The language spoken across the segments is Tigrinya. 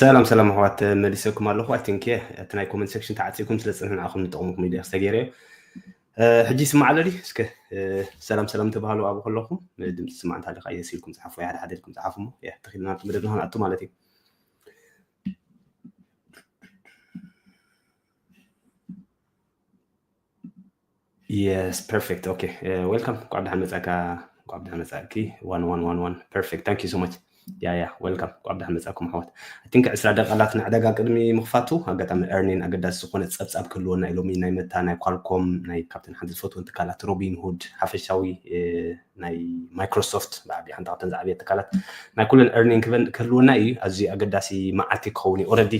ሰላም ሰላም ኣሕዋት መሊሰኩም ኣለኹ ኣይ ቲንክ እቲ ናይ ኮመንት ሴክሽን ተዓፂኩም ስለ ዝፅንሕ ንዓኹም ንጠቕሙኩም ኢሉ ዝተገይረ እዩ ሕጂ ይስማዕ ኣሎ ድዩ እስከ ሰላም ሰላም ተባሃሉ ኣብኡ ከለኹም ድምፂ ስማዕ እንታ ኣለካ የስ ኢልኩም ፀሓፉ ሓደ ሓደ ኢልኩም ፀሓፉ እሞ ያ ተኺልና ኣብቲ መደብ ንክንኣቱ ማለት እዩ የስ ፐርፌክት ኦኬ ዌልካም እንኳዕ ብደሓን መፃእካ እንኳዕ ብደሓን መፃእኪ ዋን ዋን ዋን ዋን ፐርፌክት ታንክ ዩ ሶ ማች ያ ያ ዌልካም እንኳዕ ብደሓን መፃእኩም ኣሕዋት ኣይ ቲንክ ዕስራ ደቃላት ንዕዳጋ ቅድሚ ምኽፋቱ ኣጋጣሚ ኤርኒን ኣገዳሲ ዝኾነ ፀብፃብ ክህልወና እዩ ሎሚ ናይ መታ ናይ ኳልኮም ናይ ካብተን ሓንቲ ዝፈትወን ትካላት ሮቢን ሁድ ሓፈሻዊ ናይ ማይክሮሶፍት ብዓቢ ሓንቲ ካብተን ዝዓብየት ትካላት ናይ ኩለን ኤርኒን ክህልወና እዩ ኣዝዩ ኣገዳሲ መዓልቲ ክኸውን እዩ ኦረዲ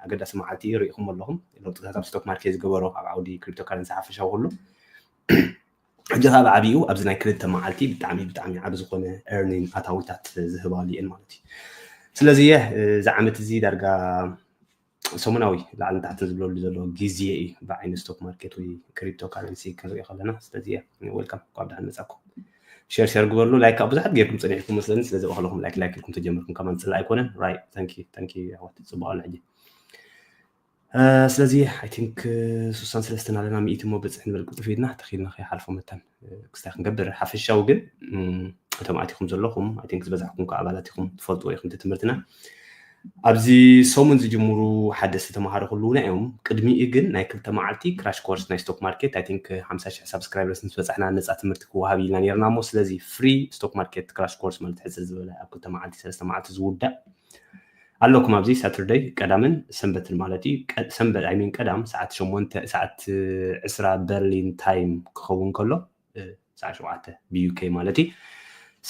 ኣገዳሲ መዓልቲ እዩ ርኢኹም ኣለኹም ለውጥታት ኣብ ስቶክ ማርኬት ዝገበሮ ኣብ ዓውዲ ክሪፕቶ ካረንሲ ሓፈሻዊ ኩሉ ሕጂ ከዓ ብዓብኡ ኣብዚ ናይ ክልተ መዓልቲ ብጣዕሚ ብጣዕሚ ዓብ ዝኾነ ኤርኒን ኣታዊታት ዝህባሉ እየን ማለት እዩ ስለዚ እየ እዚ ዓመት እዚ ዳርጋ ሰሙናዊ ላዕሊ ንታሕቲ ዝብለሉ ዘሎ ግዜ እዩ ብዓይኒ ስቶክ ማርኬት ወይ ክሪፕቶ ካረንሲ ክንሪኦ ከለና ስለዚ እየ ወልካም ኳብ ድሓን መፃኩም ሸር ሸር ግበርሉ ላይክ ካብ ብዙሓት ጌርኩም ፀኒሕኩም መስለኒ ስለዚ በክለኹም ላይክ ላይክ ኢልኩም ተጀምርኩም ከማን ፅላ ኣይኮነን ራይ ታንኪ ታንኪ ኣሕዋት ፅቡቅ ኣሎ ሕጂ ስለዚ ኣይ ቲንክ ስሳን ሰለስተን ኣለና ሚእቲ እሞ ብፅሕ ንበል ቅልጡፍ ኢድና ተኺልና ከይሓልፎ መታን ክስታይ ክንገብር ሓፈሻዊ ግን እቶም ኣቲኹም ዘለኹም ኣይ ቲንክ ዝበዛሕኩም ከዓ ኣባላት ኢኹም ትፈልጥዎ ኢኹም እቲ ትምህርትና ኣብዚ ሰሙን ዝጅምሩ ሓደስቲ ተምሃሮ ክልውና እዮም ቅድሚኡ ግን ናይ ክልተ መዓልቲ ክራሽ ኮርስ ናይ ስቶክ ማርኬት ኣይ ቲንክ ሓምሳ ሽሕ ሳብስክራይበርስ ምስ በፃሕና ነፃ ትምህርቲ ክወሃብ ኢልና ነርና እሞ ስለዚ ፍሪ ስቶክ ማርኬት ክራሽ ኮርስ ማለት ሕፅር ዝበለ ኣብ ክልተ መዓልቲ ሰለስተ መዓልቲ ዝውዳእ ኣለኩም ኣብዚ ሳትርደይ ቀዳምን ሰንበትን ማለት እዩ ሰንበት ኣይሚን ቀዳም ሰዓት ሸሞንተ ሰዓት ዕስራ በርሊን ታይም ክኸውን ከሎ ሰዓት ሸውዓተ ብዩኬ ማለት እዩ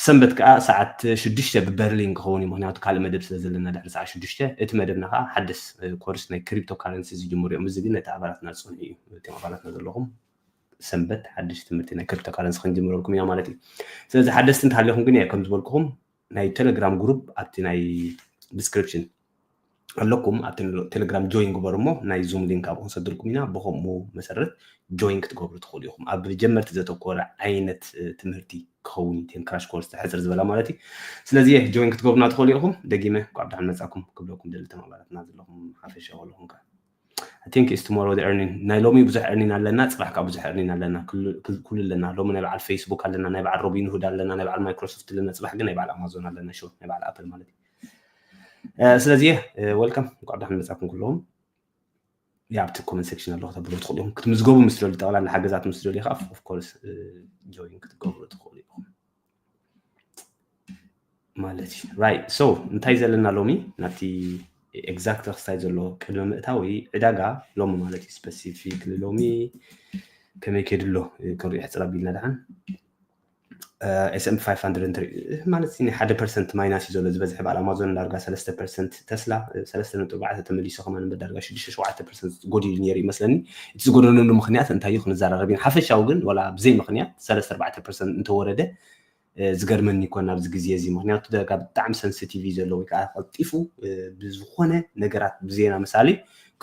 ሰንበት ከዓ ሰዓት ሽዱሽተ ብበርሊን ክኸውን እዩ ምክንያቱ ካልእ መደብ ስለ ዘለና ድሕሪ ሰዓት ሽዱሽተ እቲ መደብና ከዓ ሓደስ ኮርስ ናይ ክሪፕቶ ካረንሲ ዝጅምሩ እዮም እዚ ግን ነቲ ኣባላትና ዝፀንሑ እዩ እቶም ኣባላትና ዘለኹም ሰንበት ሓድሽ ትምህርቲ ናይ ክሪፕቶ ካረንሲ ክንጅምረልኩም ኢና ማለት እዩ ስለዚ ሓደስቲ እንተሃሊኹም ግን እየ ከም ዝበልኩኹም ናይ ቴሌግራም ግሩፕ ኣብቲ ናይ ዲስክሪፕሽን ኣለኩም ኣብቲ ቴሌግራም ጆይን ግበሩ እሞ ናይ ዙም ሊንክ ኣብኡ ክንሰድልኩም ኢና ብከምኡ መሰረት ጆይን ክትገብሩ ትኽእሉ ኢኹም ኣብ ጀመርቲ ዘተኮረ ዓይነት ትምህርቲ ክኸውን እዩ ቴን ክራሽ ኮርስ ሕፅር ዝበላ ማለት እዩ ስለዚ ጆይን ክትገብሩና ትኽእሉ ኢኹም ደጊመ ኳዕ ብድሓን መፃኩም ክብለኩም ደሊ ተማባራትና ዘለኹም ሓፈሻ ዘለኹም ከ I think it's tomorrow the earning ናይ ሎሚ ብዙሕ earning ኣለና ጽባሕ ከዓ ብዙሕ earning ኣለና ኩሉ ኣለና ሎሚ ናይ በዓል ፌስቡክ ኣለና ናይ በዓል ሮቢን ሁድ ኣለና ናይ በዓል ማይክሮሶፍት ኣለና ጽባሕ ግን ናይ በዓል ኣማዞን ኣለና ሹር ናይ በዓል ኣፕል ማለት እዩ ስለዚ ወልካም እንኳዕ ብዳሕን መጻኩም ኩለዎም ያ ኣብቲ ኮመንት ሴክሽን ኣለኩ ተብሎ ትኽእሉ ኢኹም ክትምዝገቡ ምስ ደልዩ ጠቕላላ ሓገዛት ምስ ደልዩ ከዓ ኦፍኮርስ ጆይን ክትገብሩ ትኽእሉ ኢኹም ማለት እዩ ራይት ሶ እንታይ ዘለና ሎሚ ናብቲ ኤግዛክት ክስታይ ዘሎ ቅድሚ ምእታዊ ዕዳጋ ሎሚ ማለት እዩ ስፐሲፊክ ሎሚ ከመይ ከይዱ ኣሎ ክንሪኦ ሕፅር ኣቢልና ድሓን ኤስኤምፒ 500 ማለት ናይ ሓደ ፐርሰንት ማይናስ እዩ ዘሎ ዝበዝሐ በዓል ኣማዞን ዳርጋ ሰለስተ ፐርሰንት ተስላ ሰለስተ ነጥቢ ኣርባዕተ ተመሊሱ ከማን እምበር ዳርጋ ሽዱሽተ ሸውዓተ ፐርሰንት ጎዲሉ ነይሩ ይመስለኒ እቲ ዝጎደለሉ ምክንያት እንታይ እዩ ክንዘራረብ ኢና ሓፈሻዊ ግን ወላ ብዘይ ምክንያት ሰለስተ ኣርባዕተ ፐርሰንት እንተወረደ ዝገርመኒ ይኮን ኣብዚ ግዜ እዚ ምክንያቱ ደጋ ብጣዕሚ ሰንስቲቭ እዩ ዘሎ ወይ ከዓ ቀልጢፉ ብዝኮነ ነገራት ብዜና ምሳሌ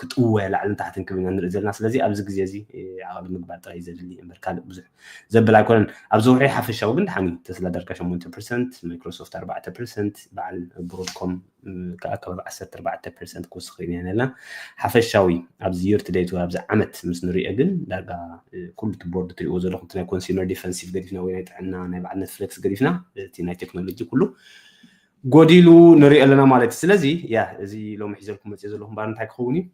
ክጥወ ላዕልን ታሕትን ክብል ኢና ንርኢ ዘለና ስለዚ ኣብዚ ግዜ እዚ ዓቐሊ ምግባር ጥራይ ዘድሊ እምበር ካልእ ብዙሕ ዘብል ኣይኮነን ኣብዚ ውዑይ ሓፈሻዊ ግን ድሓን እዩ ተስላ ዳርጋ ሸሞንተ ፐርሰንት ማይክሮሶፍት ኣርባዕተ ፐርሰንት በዓል ብሮድኮም ከዓ ከባቢ ዓሰርተ ኣርባዕተ ፐርሰንት ክውስኽ ርኢና ኢና ዘለና ሓፈሻዊ ኣብዚ የር ቱ ደይት ኣብዚ ዓመት ምስ ንሪኦ ግን ዳርጋ ኩሉ እቲ ቦርድ ትሪእዎ ዘለኹም እቲ ናይ ኮንሱመር ዲፈንሲቭ ገዲፍና ወይ ናይ ጥዕና ናይ በዓል ኔትፍሌክስ ገዲፍና እቲ ናይ ቴክኖሎጂ ኩሉ ጎዲሉ ንሪኦ ኣለና ማለት እዩ ስለዚ ያ እዚ ሎሚ ሒዘልኩም መፅኦ ዘለኹም ባር እንታይ ክኸውን እዩ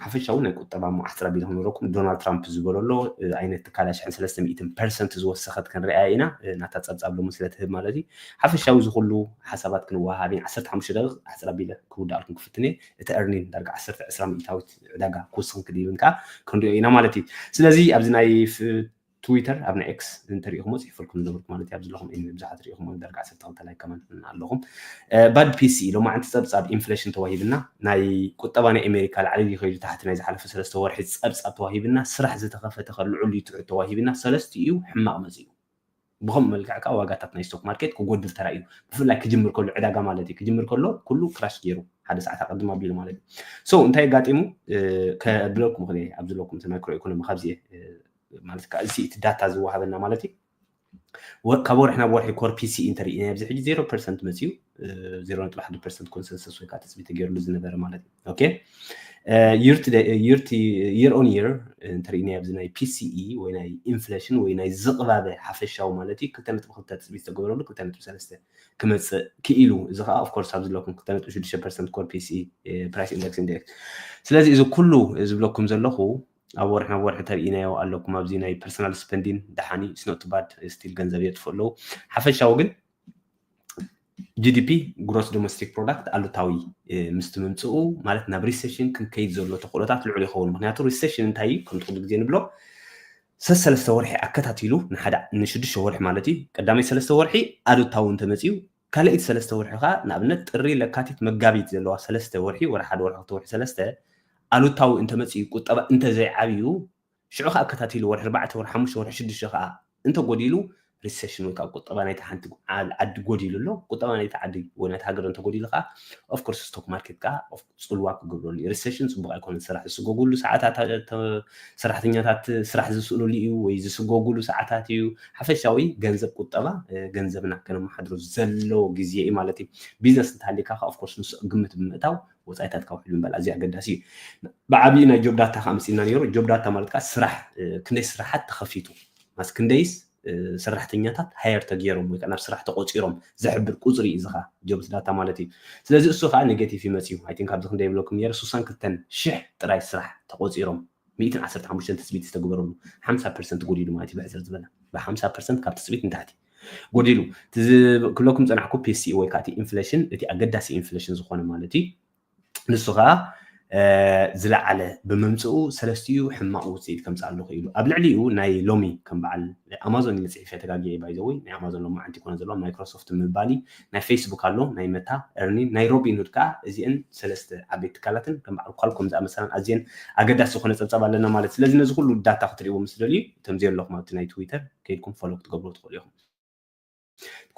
ሓፈሻዊ ናይ ቁጠባ መዓስከር ኣቢልኩም ንረኩም ዶናልድ ትራምፕ ዝበሎ ኣሎ ኣይነት ትካል ኣሽሕን ሰለስተ ሚእትን ፐርሰንት ዝወሰኸት ክንርኣያ ኢና ናታ ጸብጻብ ሎሚ ስለ ትህብ ማለት እዩ ሓፈሻዊ ዝኹሉ ሓሳባት ክንወሃሃብ ኢና ዓሰርተ ሓሙሽተ ደቂቕ ኣሕጽር ኣቢለ ክውድኣልኩም ክፍትን እየ እቲ ኤርኒን ዳርጋ ዓሰርተ ዕስራ ሚእታዊት ዕዳጋ ክውስኽን ክድይብን ከዓ ክንሪኦ ኢና ማለት እዩ ስለዚ ኣብዚ ናይ ትዊተር ኣብ ናይ ኤክስ እንተሪኢኹሞ ፅሒፈልኩም ዝነበርኩ ማለት እዩ ኣብዚ ኣለኹም ኤኒዌይ ብዙሓት ሪኢኹሞ ንደርጋ ዓሰርተ ክልተ ላይ ከማን ኣለኹም ባድ ፒሲ ሎማዕንቲ ፀብፃብ ኢንፍሌሽን ተዋሂብና ናይ ቁጠባ ናይ ኣሜሪካ ላዕሊ ድዩ ከይዱ ታሕቲ ናይ ዝሓለፈ ሰለስተ ወርሒ ፀብፃብ ተዋሂብና ስራሕ ዝተኸፈተ ከ ልዑል ድዩ ትሑት ተዋሂብና ሰለስትኡ ሕማቕ መፂኡ ብከምኡ መልክዕ ከዓ ዋጋታት ናይ ስቶክ ማርኬት ክጎድል ተራእዩ ብፍላይ ክጅምር ከሎ ዕዳጋ ማለት እዩ ክጅምር ከሎ ኩሉ ክራሽ ገይሩ ሓደ ሰዓት ኣቀድም ኣቢሉ ማለት እዩ ሶ እንታይ ኣጋጢሙ ከብለኩም ክል ኣብዚ ለኩም ማይክሮ ኢኮኖሚ ካብዚ ማለት ከኣ እዚ እቲ ዳታ ዝወሃበና ማለት እዩ ካብ ወርሒ ናብ ወርሒ ኮር ፒሲኢ እንተርኢና ኣብዚ ሕጂ ዜሮ ፐርሰንት መፅዩ ዜሮ ነጥቢ ሓደ ፐርሰንት ኮንሰንሰስ ወይ ከዓ ትፅቢት ተገይርሉ ዝነበረ ማለት እዩ ኦኬ የር ኦን የር እንተርኢና ኣብዚ ናይ ፒሲኢ ወይ ናይ ኢንፍሌሽን ወይ ናይ ዝቕባበ ሓፈሻዊ ማለት እዩ ክልተ ነጥቢ ክልተ ትፅቢት ዝተገበረሉ ክልተ ነጥቢ ሰለስተ ክመፅእ ክኢሉ እዚ ከዓ ኦፍኮርስ ኣብ ዝለኩም ክልተ ነጥቢ ሽዱሽተ ፐርሰንት ኮር ፒሲኢ ፕራይስ ኢንደክስ ኢንደክስ ስለዚ እዚ ኩሉ ዝብለኩም ዘለኹ ኣብ ወርሒ ናብ ወርሒ ተርኢናዮ ኣለኩም ኣብዚ ናይ ፐርሰናል ስፐንዲን ደሓን እዩ ስኖትባድ ስቲል ገንዘብ የጥፍኡ ኣለዉ ሓፈሻዊ ግን ጂዲፒ ግሮስ ዶሜስቲክ ፕሮዳክት ኣሉታዊ ምስቲ ምምፅኡ ማለት ናብ ሪሴሽን ክንከይድ ዘሎ ተኽእሎታት ልዑል ይኸውን ምክንያቱ ሪሴሽን እንታይ እዩ ከምቲ ኩሉ ግዜ ንብሎ ሰሰለስተ ወርሒ ኣከታቲሉ ንሓደ ንሽዱሽተ ወርሒ ማለት እዩ ቀዳመይ ሰለስተ ወርሒ ኣሉታዊ እንተመፅኡ ካልኣይቲ ሰለስተ ወርሒ ከኣ ንኣብነት ጥሪ፣ ለካቲት፣ መጋቢት ዘለዋ ሰለስተ ወርሒ፣ ወርሒ ሓደ፣ ወርሒ ክልተ፣ ወርሒ ሰለስተ፣ ኣሉታዊ እንተመጺኡ ቁጠባ እንተዘይዓብዩ ሽዑ ከኣ ኣከታቲሉ ወርሒ ኣርባዕተ፣ ወርሒ ሓሙሽተ፣ ወርሒ ሽዱሽተ ከኣ እንተጎዲሉ ሪሰሽን ወይ ከኣ ቁጠባ ናይታ ሓንቲ ዓዲ ጎዲሉ ኣሎ ቁጠባ ናይታ ዓዲ ወይ ናይታ ሃገር እንተጎዲሉ ከኣ ኦፍኮርስ ስቶክ ማርኬት ከኣ ጽልዋ ክገብረሉ እዩ። ሪሰሽን ጽቡቕ ኣይኮነን፣ ስራሕ ዝስጎግሉ ሰዓታት ሰራሕተኛታት ስራሕ ዝስእንሉ እዩ ወይ ዝስጎግሉ ሰዓታት እዩ። ሓፈሻዊ ገንዘብ ቁጠባ ገንዘብና ከነመሓድሮ ዘለዎ ግዜ እዩ ማለት እዩ። ቢዝነስ እንተሃልየካ ከ ኦፍኮርስ ንሱ ግምት ብምእታው ወጻኢታትካ ውሕል ምባል ኣዝዩ ኣገዳሲ እዩ። ብዓብዪ ናይ ጆብ ዳታ ከ ኣምጺእና ነይሩ። ጆብ ዳታ ማለት ከ ስራሕ ክንደይ ስራሓት ተኸፊቱ ማስ ክንደይስ ሰራሕተኛታት ሃየር ተገይሮም ወይ ከዓ ናብ ስራሕ ተቆፂሮም ዘሕብር ቁፅሪ እዩ እዚ ከዓ ጆብስ ዳታ ማለት እዩ ስለዚ እሱ ከዓ ኔጌቲቭ ይመፅዩ ኣይቲንክ ኣብዚ ክንደይ ይብለኩም ነይረ ሱሳን ክልተን ሽሕ ጥራይ ስራሕ ተቆፂሮም ሚእትን ዓሰርተ ሓሙሽተን ትፅቢት ዝተገበረሉ ሓምሳ ፐርሰንት ጎዲሉ ማለት እዩ ብሕፅር ዝበለ ብሓምሳ ፐርሰንት ካብ ትፅቢት ንታሕቲ ጎዲሉ ክብለኩም ፀናሕኩ ፒሲ ወይ ከዓ እቲ ኢንፍሌሽን እቲ ኣገዳሲ ኢንፍሌሽን ዝኾነ ማለት እዩ ንሱ ከኣ ዝለዓለ ብምምጽኡ ሰለስቲኡ ሕማቕ ውጽኢት ከምጽኣሉ ክኢሉ ኣብ ልዕሊኡ ናይ ሎሚ ከም በዓል ኣማዞን እዩ ጽሒፈ ተጋጊየ ባይዘወይ ናይ ኣማዞን ሎሚ ዓንቲ ኮነ ዘለዋ ማይክሮሶፍት ምባል እዩ ናይ ፌስቡክ ኣሎ ናይ መታ እርኒን ናይ ሮቢንሁድ ከኣ እዚአን ሰለስተ ዓበይቲ ትካላትን ከም በዓል ኳልኮም ዝኣመሰላን ኣዝየን ኣገዳሲ ዝኾነ ጸብጻብ ኣለና ማለት ስለዚ ነዚ ኩሉ ዳታ ክትርእይዎ ምስ ደልዩ እቶም ዘየለኹም ኣብቲ ናይ ትዊተር ከይድኩም ፎሎ ክትገብሩ ትኽእሉ ኢኹም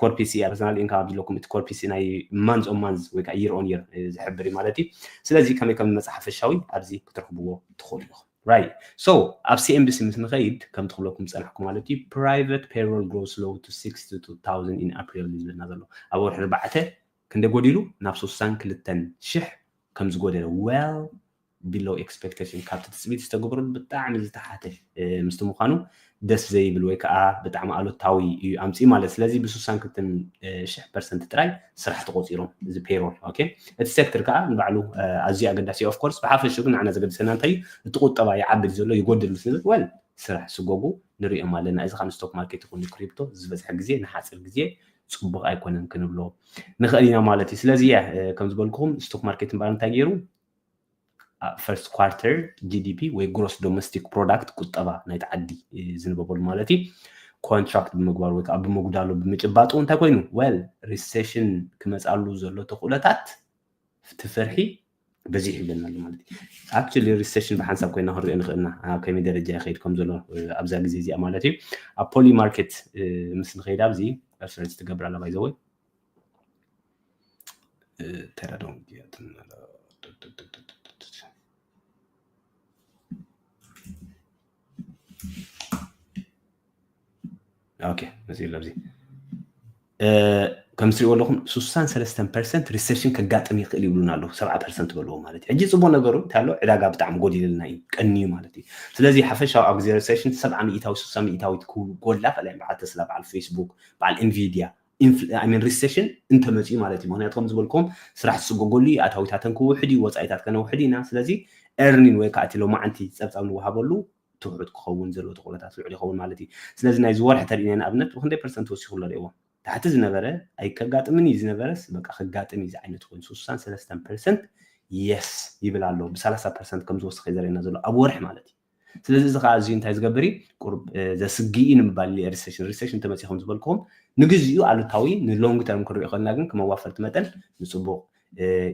ኮር ፒሲ ኣርሰናል ኢንካ ኣብ ዝለኩም እቲ ኮር ፒሲ ናይ ማንዝ ኦን ማንዝ ወይ ከዓ ይር ኦን ይር ዝሕብር እዩ ማለት እዩ ስለዚ ከመይ ከም መፅእ ሓፈሻዊ ኣብዚ ክትረኽብዎ ትኽእሉ ኢኹም ራይ ሶ ኣብ ሲኤምቢሲ ምስ ንኸይድ ከም ትኽብለኩም ፀናሕኩ ማለት እዩ ፕራይቨት ፔሮል ግሮስ ሎው ቱ 62000 ኢን ኣፕሪል እዩ ዝብለና ዘሎ ኣብ ወርሒ ርባዕተ ክንደይ ጎዲሉ ናብ ሱሳን ክልተን ሽሕ ከም ዝጎደለ well below expectation ካብቲ ትጽቢት ዝተገብረሉ ብጣዕሚ ዝተሓተ ምስቲ ምዃኑ ደስ ዘይብል ወይ ከኣ ብጣዕሚ ኣሉታዊ እዩ ኣምጺኡ ማለት ስለዚ ብሱሳን ክልተን ሽሕ ፐርሰንት ጥራይ ስራሕ ተቖጺሮም እዚ ፔሮል ኦኬ እቲ ሴክተር ከኣ ንባዕሉ ኣዝዩ ኣገዳሲ ኦፍ ኮርስ ብሓፈሽኡ ግን ንዓና ዘገድሰና እንታይ እዩ እቲ ቁጠባ ይዓብድ ዘሎ ይጎድል ምስ ንብል ወል ስራሕ ስጎጉ ንሪኦም ኣለና እዚ ካብ ስቶክ ማርኬት ይኹን ክሪፕቶ ዝበዝሐ ግዜ ንሓጺር ግዜ ፅቡቕ ኣይኮነን ክንብሎ ንኽእል ኢና ማለት እዩ ስለዚ እያ ከም ዝበልኩኹም ስቶክ ማርኬት እምበኣር እንታይ ገይሩ ፈርስት ኳርተር ጂዲፒ ወይ ግሮስ ዶሜስቲክ ፕሮዳክት ቁጠባ ናይቲ ዓዲ ዝንበበሉ ማለት እዩ ኮንትራክት ብምግባሩ ወይ ከዓ ብምጉዳሉ ብምጭባጡ እንታይ ኮይኑ ወል ሪሴሽን ክመፃሉ ዘሎ ተኽእሎታት እቲ ፍርሒ በዚሑ ይብለና ኣሎ ማለት እዩ ኣክቹሊ ሪሴሽን ብሓንሳብ ኮይና ክንሪኦ ንኽእል ኢና ኣብ ከመይ ደረጃ ይኸይድ ከም ዘሎ ኣብዛ ግዜ እዚኣ ማለት እዩ ኣብ ፖሊ ማርኬት ምስ ንኸይድ ኣብዚ ሬፈረንስ ትገብር ኣላ ባይዘወይ ተረዶም ኦኬ መፅኡ ኣሎ ኣብዚ ከም ትሪእዎ ኣለኹም 63 ፐርሰንት ሪሴሽን ከጋጥም ይኽእል ይብሉና ኣለዉ ሰብዓ ፐርሰንት በልዎ ማለት እዩ ሕጂ ፅቡቅ ነገሩ እንታይ ኣሎ ዕዳጋ ብጣዕሚ ጎዲልልና እዩ ቀንዩ ማለት እዩ ስለዚ ሓፈሻዊ ኣብ ግዜ ሪሴሽን ሰብዓ ሚእታዊ ስሳ ሚእታዊት ክጎላ ከላይ በዓል ተስላ በዓል ፌስቡክ በዓል ኢንቪድያ ሪሰሽን እንተመፅኡ ማለት እዩ ምክንያቱ ከምዝበልክዎም ስራሕ ዝፅጎገሉ እዩ ኣታዊታተን ክውሕድ እዩ ወፃኢታት ከነውሕድ ኢና ስለዚ ኤርኒን ወይ ከዓ እቲ ሎማዓንቲ ፀብፃብ ንወሃበሉ ትሑት ክኸውን ዘለዎ ተኽእሎታት ልዑል ይኸውን ማለት እዩ ስለዚ ናይዚ ወርሒ ተርእናይ ንኣብነት ብክንደይ ፐርሰንት ወሲኹ ኣሎ ርእይዎ ታሕቲ ዝነበረ ኣይከጋጥምን እዩ ዝነበረስ በቃ ክጋጥም እዩ ዝዓይነቱ ኮይኑ ስሳን ሰለስተን ፐርሰንት የስ ይብል ኣሎ ብሰላሳ ፐርሰንት ከምዝወሰኸ እዩ ዘርእየና ዘሎ ኣብ ወርሒ ማለት እዩ ስለዚ እዚ ከዓ እዚዩ እንታይ ዝገብር እዩ ቁሩብ ዘስግእ እዩ ንምባል ኢለ ሪሴሽን ሪሴሽን እንተመፅኡ ከም ዝበልክኹም ንግዚኡ ኣሉታዊ ንሎንግ ተርም ክንሪኦ ከለና ግን ከም ኣዋፈርቲ መጠን ንፅቡቕ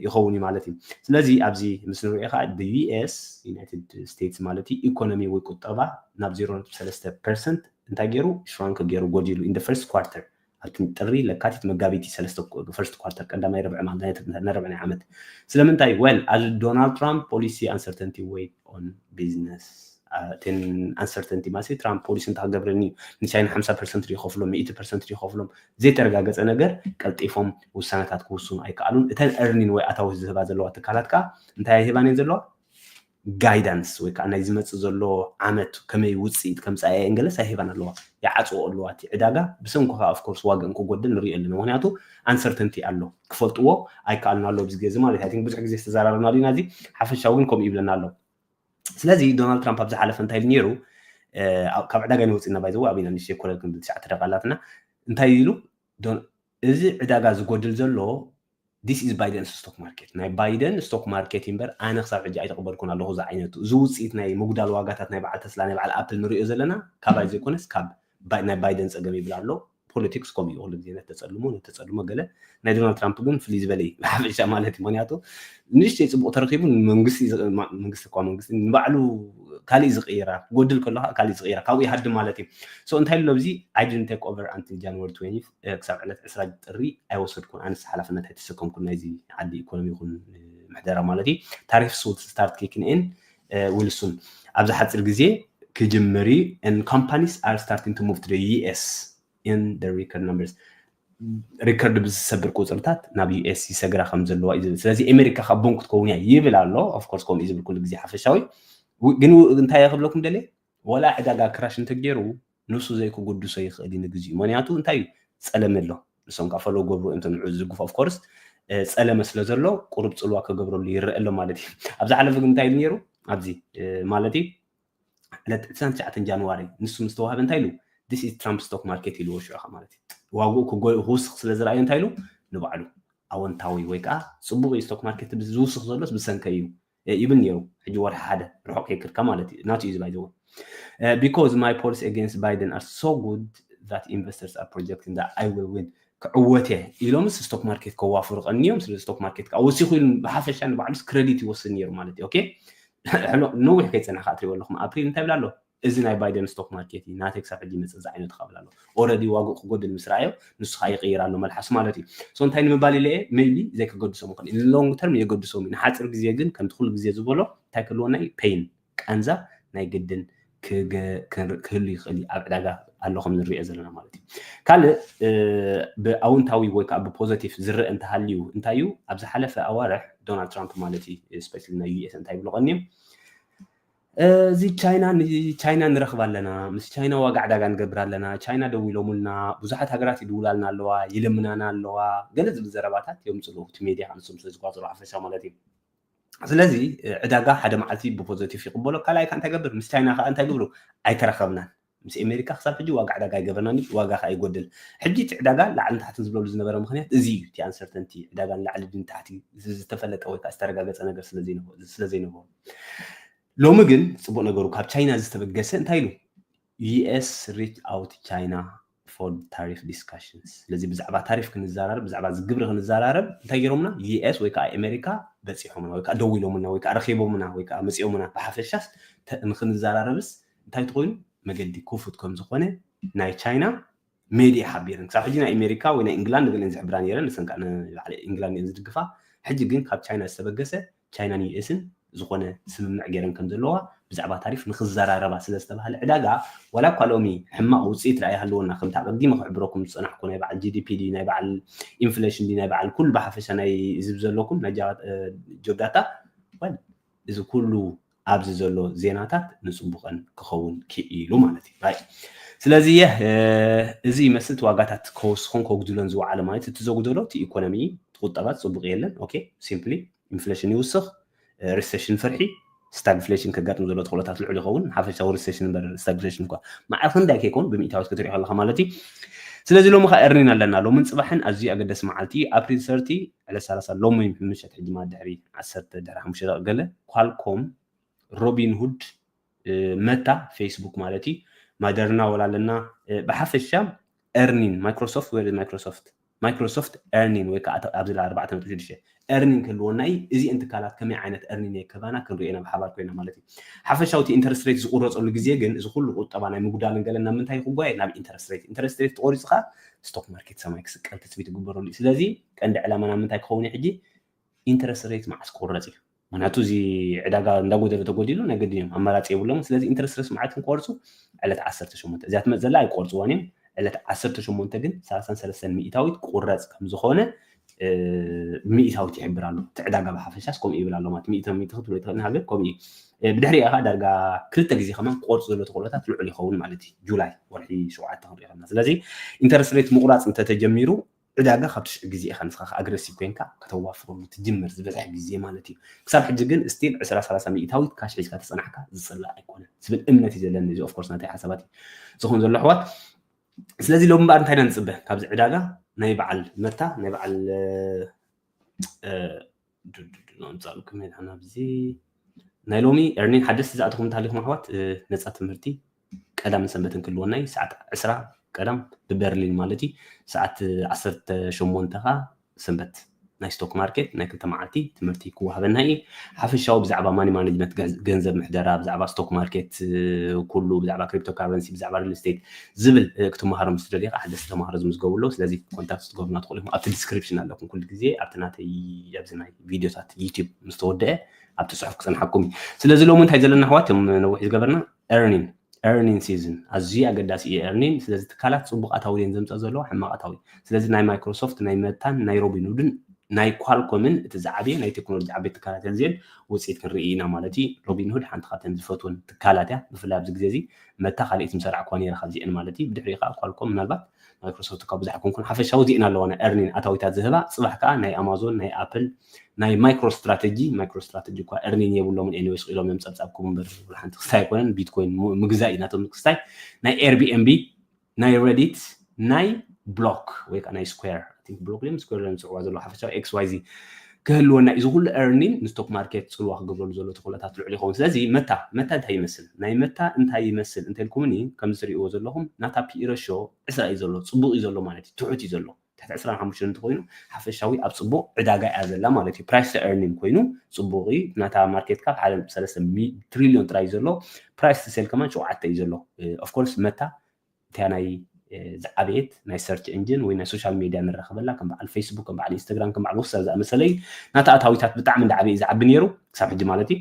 ይኸውን እዩ ማለት እዩ ስለዚ ኣብዚ ምስ ንሪኦ ከዓ ብዩኤስ ዩናይትድ ስቴትስ ማለት እዩ ኢኮኖሚ ወይ ቁጠባ ናብ 0.3 ፐርሰንት እንታይ ገይሩ ሽራንክ ገይሩ ጎዲሉ ኢን ፈርስት ኳርተር ኣብቲ ጥሪ፣ ለካቲት፣ መጋቢት እዩ ሰለስተ ክቅዱ፣ First Quarter፣ ቀዳማይ ርብዒ ማለት ነርብዒ ናይ ዓመት። ስለምንታይ? Well፣ ኣብዚ ዶናልድ ትራምፕ ፖሊሲ ኣንሰርተንቲ ዌይት ኦን ቢዝነስ። እተን ኣንሰርተንቲ ማለት ትራምፕ ፖሊሲ እንታይ ክገብረኒ እዩ፣ ንቻይና ሓምሳ ፐርሰንት ድዩ ከፍሎም፣ ሚእቲ ፐርሰንት ድዩ ከፍሎም፣ ዘይተረጋገፀ ነገር ቀልጢፎም ውሳነታት ክውስኑ ኣይከኣሉን። እተን እርኒን ወይ ኣታዊ ዝህባ ዘለዋ ትካላት ከኣ እንታይ ኣይህባን እየን ዘለዋ? ጋይዳንስ ወይ ከኣ ናይ ዝመጽእ ዘሎ ዓመት ከመይ ውጽኢት ከምጽኣ እየን ገለጽ ኣይህባን ኣለዋ ይዓጽወኦ ኣለዋ እቲ ዕዳጋ ብሰንኩ ከኣ of course ዋግእን ክጎድል ንሪኦ ኣለና ምክንያቱ uncertainty ኣሎ ክፈልጥዎ ኣይከኣሉን ኣለዉ ኣብዚ ግዜ ማለት እዩ i think ብዙሕ ግዜ ዝተዘራረብናሉ ኢና እዚ ሓፈሻዊ ግን ከምኡ ይብለና ኣሎ ስለዚ ዶናልድ ትራምፕ ኣብ ዝሓለፈ እንታይ ኢሉ ነይሩ ካብ ዕዳጋ ኢና ወፂና ባይዘወ ኣበና ንሽተይ ኮለል ክንብል ትሽዓተ ደቂ ኣላትና እንታይ ኢሉ ዶን እዚ ዕዳጋ ዝጎድል ዘሎ this is Biden's stock market ናይ ባይደን ስቶክ ማርኬት እዩ እምበር ኣነ ክሳብ ሕጂ ኣይተቐበልኩን ኣለኹ እዚ ዓይነቱ እዚ ውፅኢት ናይ ምጉዳል ዋጋታት ናይ በዓል ተስላ ናይ በዓል ኣፕል ንሪኦ ዘለና ካባይ ዘይኮነስ ካብ ናይ ባይደን ፀገም ይብል ኣሎ ፖለቲክስ ከምኡ እዩ ኩሉ ግዜ ነተፀልሞ ነተፀልሞ ገለ ናይ ዶናልድ ትራምፕ ግን ፍልይ ዝበለ እዩ ብሓፈሻ ማለት እዩ ምክንያቱ ንእሽተይ ጽቡቕ ተረኺቡ ንመንግስቲ ዝቕ- ማ- መንግስቲ እኳ መንግስቲ ንባዕሉ ካሊእ ዝቕይራ ክጎድል ከሎ ከዓ ካሊእ ዝቕይራ ካብኡ ይሃድም ማለት እዩ ሶ እንታይ ኣሎ ኣብዚ I didn't take over until January 20 እ፣ ክሳብ ዕለት 20 ጥሪ ኣይወሰድኩን ኣነስ ሓላፍነት ኣይተሰከምኩን ናይዚ ዓዲ ኢኮኖሚ ይኹን እ፣ ምሕደራ ማለት እዩ ታሪፍስ ውድ ስታርት ኪክን ኢን ዊል ሱን ኣብዚ ሓፂር ግዜ ክጅምር እዩ and companies are starting to move to the US in the record numbers ሪከርድ ብዝሰብር ቁፅርታት ናብ ዩኤስ ይሰግራ ከም ዘለዋ እዩ ዝብል ስለዚ ኣሜሪካ ካብ ቦንክ ክትከውን እያ ይብል ኣሎ ኦፍኮርስ ከምኡ ዝብል ኩሉ ግዜ ሓፈሻዊ ግን እንታይ ክብለኩም ደልየ ወላ ዕዳጋ ክራሽ እንተገይሩ ንሱ ዘይክጉድሶ ይኽእል እዩ ንግዚኡ ምክንያቱ እንታይ እዩ ፀለመ ኣሎ ንሶም ከዓ ፈለዉ ገብሩ እዮም ተንዑ ዝድግፉ ኦፍኮርስ ፀለመ ስለ ዘሎ ቁሩብ ፅልዋ ክገብረሉ ይረአ ኣሎ ማለት እዩ ኣብ ዝሓለፈ ግን እንታይ ኢሉ ነይሩ ኣብዚ ማለት እዩ ዕለት ዕስራን ትሽዓተን ጃንዋሪ ንሱ ምስ ተዋህበ እንታይ ኢሉ this is Trump stock market ኢልዎ ሽዑ ከ ማለት እዩ ዋግኡ ክጎ- ክውስኽ ስለ ዝረኣዮ እንታይ ኢሉ ንባዕሉ ኣወንታዊ ወይ ከዓ ፅቡቕ እዩ ስቶክ ማርኬት ብዚ ዝውስኽ ዘሎስ ብሰንከይ እዩ እ፣ ይብል ነይሩ ሕጂ ወርሒ ሓደ ርሑቕ ከይክድካ ማለት እዩ ናቱ እዩ ዝባይዘወ ቢኮዝ ማይ ፖሊሲ ኤጌንስት ባይደን ኣር ሶ ጉድ ዛት ኢንቨስተርስ ኣር ፕሮጀክቲንግ ዛት ኣይ ዊል ዊን ክዕወት እየ ኢሎምስ ስቶክ ማርኬት ከዋፍሩ ቀንዮም ስለ ስቶክ ማርኬት ከዓ ወሲኹ ኢሉ ብሓፈሻ ንባዕሉስ ክረዲት ይወስድ ነይሩ ማለት እዩ ኦኬ ሕሉቕ ንዊሕ ከይጸንሕ ከኣ ትሪእዎ ኣለኹም ኣፕሪል እንታይ ይብል ኣሎ እዚ ናይ ባይደን ስቶክ ማርኬት እዩ ናተይ ክሳብ ሕጂ ይመጽእ ዝዓይነቱ ካብል ኣሎ ኦረዲ ዋግኡ ክጎድል ምስ ረኣዮ ንሱ ከዓ ይቅይር ኣሎ መልሓሱ ማለት እዩ ሶ እንታይ ንምባል ኢለ እየ ሜይቢ ዘይክገድሶም ይኽእል እዩ ሎንግ ተርም የገድሶም እዩ ንሓፂር ግዜ ግን ከምቲ ኩሉ ግዜ ዝበሎ እንታይ ክህልወና እዩ ፔይን ቃንዛ ናይ ግድን ክህሉ ይኽእል እዩ ኣብ ዕዳጋ ኣሎ ከም ንሪኦ ዘለና ማለት እዩ ካልእ ብኣውንታዊ ወይ ከዓ ብፖዘቲቭ ዝረአ እንተሃልዩ እንታይ እዩ ኣብ ዝሓለፈ ኣዋርሕ ዶናልድ ትራምፕ ማለት እዩ ስፔሻሊ ናይ ዩኤስ እንታይ ይብሉ ቀኒዮም እዚ ቻይና ቻይና ንረኽብ ኣለና ምስ ቻይና ዋጋ ዕዳጋ ንገብር ኣለና ቻይና ደው ኢሎምልና ብዙሓት ሃገራት ይድውላልና ኣለዋ ይልምናና ኣለዋ ገለ ዝብል ዘረባታት የምፅሉ እቲ ሜድያ ንሶም ስለዝቋፅሩ ሓፈሻ ማለት እዩ ስለዚ ዕዳጋ ሓደ መዓልቲ ብፖዘቲቭ ይቕበሎ ካልኣይ ከዓ እንታይ ገብር ምስ ቻይና ከዓ እንታይ ግብሩ ኣይተረኸብናን ምስ ኣሜሪካ ክሳብ ሕጂ ዋጋ ዕዳጋ ኣይገበርናን እዩ ዋጋ ከዓ ይጎድል ሕጂ እቲ ዕዳጋ ላዕልን ታሕትን ዝብለሉ ዝነበረ ምክንያት እዚ እዩ እቲ ኣንሰርተንቲ ዕዳጋ ንላዕሊ ድን ታሕቲ ዝተፈለጠ ወይ ከዓ ዝተረጋገፀ ነገር ስለዘይነበሩ ሎሚ ግን ፅቡቅ ነገሩ ካብ ቻይና ዝተበገሰ እንታይ ኢሉ US reach out China for tariff discussions ስለዚ ብዛዕባ ታሪፍ ክንዛራረብ ብዛዕባ እዚ ግብሪ ክንዛራረብ እንታይ ጌሮምና US ወይ ከኣ ኤመሪካ በጺሖምና ወይ ከኣ ደዊሎምልና ወይ ከኣ ረኺቦምና ወይ ከኣ መጺኦምና ብሓፈሻስ ንኽንዛራረብስ እንታይ ትኾይኑ መገዲ ክፉት ከም ዝኾነ ናይ ቻይና ሜድየ ሓቢረን። ክሳብ ሕጂ ናይ ኣሜሪካ ወይ ናይ እንግላንድ ንገለን ዝሕብራ ነይረን፣ ንሰን ከኣ ንባዕለ እንግላንድ እየን ዝድግፋ። ሕጂ ግን ካብ ቻይና ዝተበገሰ ቻይናን ዩኤስን ዝኾነ ስምምዕ ገይረን ከም ዘለዋ ብዛዕባ ታሪፍ ንኽዘራረባ ስለ ዝተባህለ ዕዳጋ ዋላ እኳ ሎሚ ሕማቕ ውጽኢት ደኣ ይሃልወና ከምቲ ኣቐዲመ ክሕብረኩም ዝጸናሕኩ ናይ በዓል ጂዲፒ ድዩ ናይ በዓል ኢንፍሌሽን ድዩ ናይ በዓል ኩሉ ብሓፈሻ ናይ እዚ ብዘለኩም ናይ ጆብ ዳታ እዚ ኩሉ ኣብዚ ዘሎ ዜናታት ንጽቡቀን ክኸውን ክኢሉ ማለት እዩ ራይት ስለዚ የ እዚ ይመስል ዋጋታት ከወስኾን ከጉድሎን ዝወዓለ ማለት እቲ ዘጉደሎ እቲ ኢኮኖሚ ቁጠባ ጽቡቅ የለን ኦኬ ሲምፕሊ ኢንፍሌሽን ይውስኽ ሪሴሽን ፍርሒ ስታግፍሌሽን ከጋጥም ዘሎ ተኽእሎታት ልዑል ይኸውን ሓፈሻዊ ሪሴሽን እምበር ስታግፍሌሽን እኳ ማዕረ ክንዳይ ከይኮን ብምኢታዊት ክትሪኦ ከለካ ማለት እዩ ስለዚ ሎሚ ከዓ እርኒን ኣለና ሎምን ፅባሕን ኣዝዩ ኣገዳሲ መዓልቲ እዩ ኣፕሪል ሰርቲ ዕለት ሰላሳ ሎሚ ወይ ምሸት ሕጂ ማለት ድሕሪ ዓሰርተ ድሕሪ ሓሙሽተ ደቂቅ ገለ ኳልኮም ሮቢንሁድ መታ ፌስቡክ ማለት እዩ ማደርና ወላ ኣለና ብሓፈሻ ኤርኒን ማይክሮሶፍት ወይ ማይክሮሶፍት ማይክሮሶፍት ኤርኒን ወይ ከዓ ኣብዚ ላ ኣርባዕተ ነጥቢ ሽዱሽተ ኤርኒን ክህልወና እዩ እዚአን ትካላት ከመይ ዓይነት ኤርኒን የከባና ክንሪኦ ኢና ብሓባር ኮይና ማለት እዩ ሓፈሻዊ እቲ ኢንተረስት ሬት ዝቁረፀሉ ግዜ ግን እዚ ኩሉ ቁጠባ ናይ ምጉዳልን ገለን ናብ ምንታይ ክጓየ ናብ ኢንተረስት ሬት ኢንተረስት ሬት ተቆሪፁ ከዓ ስቶክ ማርኬት ሰማይ ክስቀል ትፅቢት ይግበረሉ እዩ ስለዚ ቀንዲ ዕላማና ምንታይ ክኸውን እዩ ሕጂ ኢንተረስት ሬት መዓስ ክቁረፅ እዩ ምክንያቱ እዚ ዕዳጋ እንዳጎደለ ተጎዲሉ ናይ ገድን እዮም ኣማራፂ የብሎምን ስለዚ ኢንተረስት ሬት መዓት ክንቆርፁ ዕለት 18 እዚኣ ትመፅ ዘላ ኣይቆርፅዋን እዮም ዕለት 18 ግን 33 ሚእታዊት ክቁረፅ ከምዝኾነ ሚእታዊት ይሕብር ኣሎ እቲ ዕዳጋ ብሓፈሻስ ከምኡ ይብል ኣሎ ማለት ሚእቶ ሚእቶ ክትብሎ ይትኽእል ሃገር ከምኡ እዩ ብድሕሪኡ ከዓ ዳርጋ ክልተ ግዜ ከማን ክቆርፁ ዘሎ ተኽእሎታት ልዑል ይኸውን ማለት እዩ ጁላይ ወርሒ ሸውዓተ ክንሪኦ ከለና ስለዚ ኢንተረስት ሬት ምቑራፅ እንተተጀሚሩ ዕዳጋ ካብቲ ሽዑ ግዜ ኢኻ ንስኻ ከኣ ኣግረሲቭ ኮይንካ ከተዋፍረሉ ትጅምር ዝበዝሕ ግዜ ማለት እዩ ክሳብ ሕጂ ግን እስቲል ዕስራ ሰላሳ ሚኢታዊት ካሽ ሒዝካ ተጸናሕካ ዝጽላእ ኣይኮነን ዝብል እምነት እዩ ዘለኒ እዚ ኦፍኮርስ ናተይ ሓሳባት እዩ ዝኸውን ዘሎ ኣሕዋት ስለዚ ሎሚ እምበኣር እንታይ ኢና ንጽበ ካብዚ ዕዳጋ ናይ በዓል መታ ናይ በዓል ኣምፃእልኩም ኢና ናብዚ ናይ ሎሚ ኤርኒን ሓደስቲ ዝኣተኹም እንተሃሊኹም ኣሕዋት ነፃ ትምህርቲ ቀዳምን ሰንበትን ክህልወና እዩ ሰዓት ዕስራ ቀዳም ብበርሊን ማለት እዩ ሰዓት ዓሰርተ ሸሞንተ ከዓ ሰንበት ናይ ስቶክ ማርኬት ናይ ክልተ መዓልቲ ትምህርቲ ክወሃበና እዩ ሓፈሻዊ ብዛዕባ ማኒ ማኔጅመንት ገንዘብ ምሕደራ ብዛዕባ ስቶክ ማርኬት ኩሉ ብዛዕባ ክሪፕቶ ካረንሲ ብዛዕባ ሪል ስቴት ዝብል ክትመሃሮ ምስ ትደልዩ ከኣ ሓደስቲ ተማሃሮ ዝምዝገቡ ኣለዉ ስለዚ ኮንታክት ክትገብሩና ትኽእሉ ኢኹም ኣብቲ ዲስክሪፕሽን ኣለኩም ኩሉ ግዜ ኣብቲ ናተይ ኣብዚ ናይ ቪድዮታት ዩቲዩብ ምስ ተወደአ ኣብቲ ፅሑፍ ክፅንሓኩም እዩ ስለዚ ሎሚ እንታይ ዘለና ኣሕዋት ም ነዊሕ ዝገበርና ኤርኒን ኤርኒን ሲዝን ኣዝዩ ኣገዳሲ እዩ ኤርኒን ስለዚ ትካላት ፅቡቃት ኣውየን ዘምፀ ዘለዎ ሕማቃት ኣውየ ስለዚ ናይ ማይክሮሶፍት ናይ መታን ናይ ሮቢንሁድን ናይ ኳልኮምን እቲ ዝዓበየ ናይ ቴክኖሎጂ ዓበይቲ ትካላት እየን ዝን ውፅኢት ክንርኢ ኢና ማለት እዩ ሮቢንሁድ ሓንቲ ካብተን ዝፈትወን ትካላት እያ ብፍላይ ኣብዚ ግዜ እዚ መታ ካልኤት ምሰራዕኩዋ ነይረ ካብዚኤን ማለት እዩ ብድሕሪኡ ከኣ ኳልኮም ምናልባት ማይክሮሶፍት እኳ ብዙሕ ኣይኮንኩን ሓፈሻዊ ዚኤን ኣለዋና ኤርኒን ኣታዊታት ዝህባ ጽባሕ ከኣ ናይ ኣማዞን ናይ ኣፕል ናይ ማይክሮ ስትራተጂ ማይክሮ ስትራተጂ እኳ ኤርኒን የብሎምን ኤኒዌይስ ክኢሎም እዮም ጸብጻብ ክቡ እምበር ወላ ሓንቲ ክስታይ ኣይኮነን ቢትኮይን ምግዛእ እዩ ናቶም ክስታይ ናይ ኤርቢኤንቢ ናይ ረዲት ናይ ብሎክ ወይ ከዓ ናይ ስኩዌር ቲንክ ብሎክ ድዮም ስኩዌር ድዮም ዝፅዕዋ ዘለዉ ሓፈሻዊ ኤክስ ዋይ ዚ ክህልወና እዩ እዚ ኩሉ ኤርኒን ንስቶክ ማርኬት ፅልዋ ክገብረሉ ዘሎ ተኽእሎታት ልዑል ይኸውን ስለዚ መታ መታ እንታይ ይመስል ናይ መታ እንታይ ይመስል እንተልኩምኒ ከምዚ ትሪእዎ ዘለኹም ናታ ፒኢ ረሾ ዕስራ እዩ ዘሎ ፅቡቕ እዩ ዘሎ ማለት እዩ ትሑት እዩ ዘሎ ትሕቲ ዕስራን ሓሙሽተን እንተኾይኑ ሓፈሻዊ ኣብ ጽቡቕ ዕዳጋ እያ ዘላ ማለት እዩ ፕራይስ ቱ ኤርኒንግ ኮይኑ ጽቡቕ እዩ ናታ ማርኬት ካብ ሓደ ነጥቢ ሰለስተ ትሪልዮን ጥራይ እዩ ዘሎ ፕራይስ ቱ ሴል ከማን ሸውዓተ እዩ ዘሎ ኦፍኮርስ መታ እቲያ ናይ ዝዓበየት ናይ ሰርች እንጅን ወይ ናይ ሶሻል ሜድያ ንራኸበላ ከም በዓል ፌስቡክ ከም በዓል ኢንስታግራም ከም በዓል ወሰር ዝኣመሰለ እዩ ናታ ኣታዊታት ብጣዕሚ እንዳዓበየ እዩ ዝዓቢ ነይሩ ክሳብ ሕጂ ማለት እዩ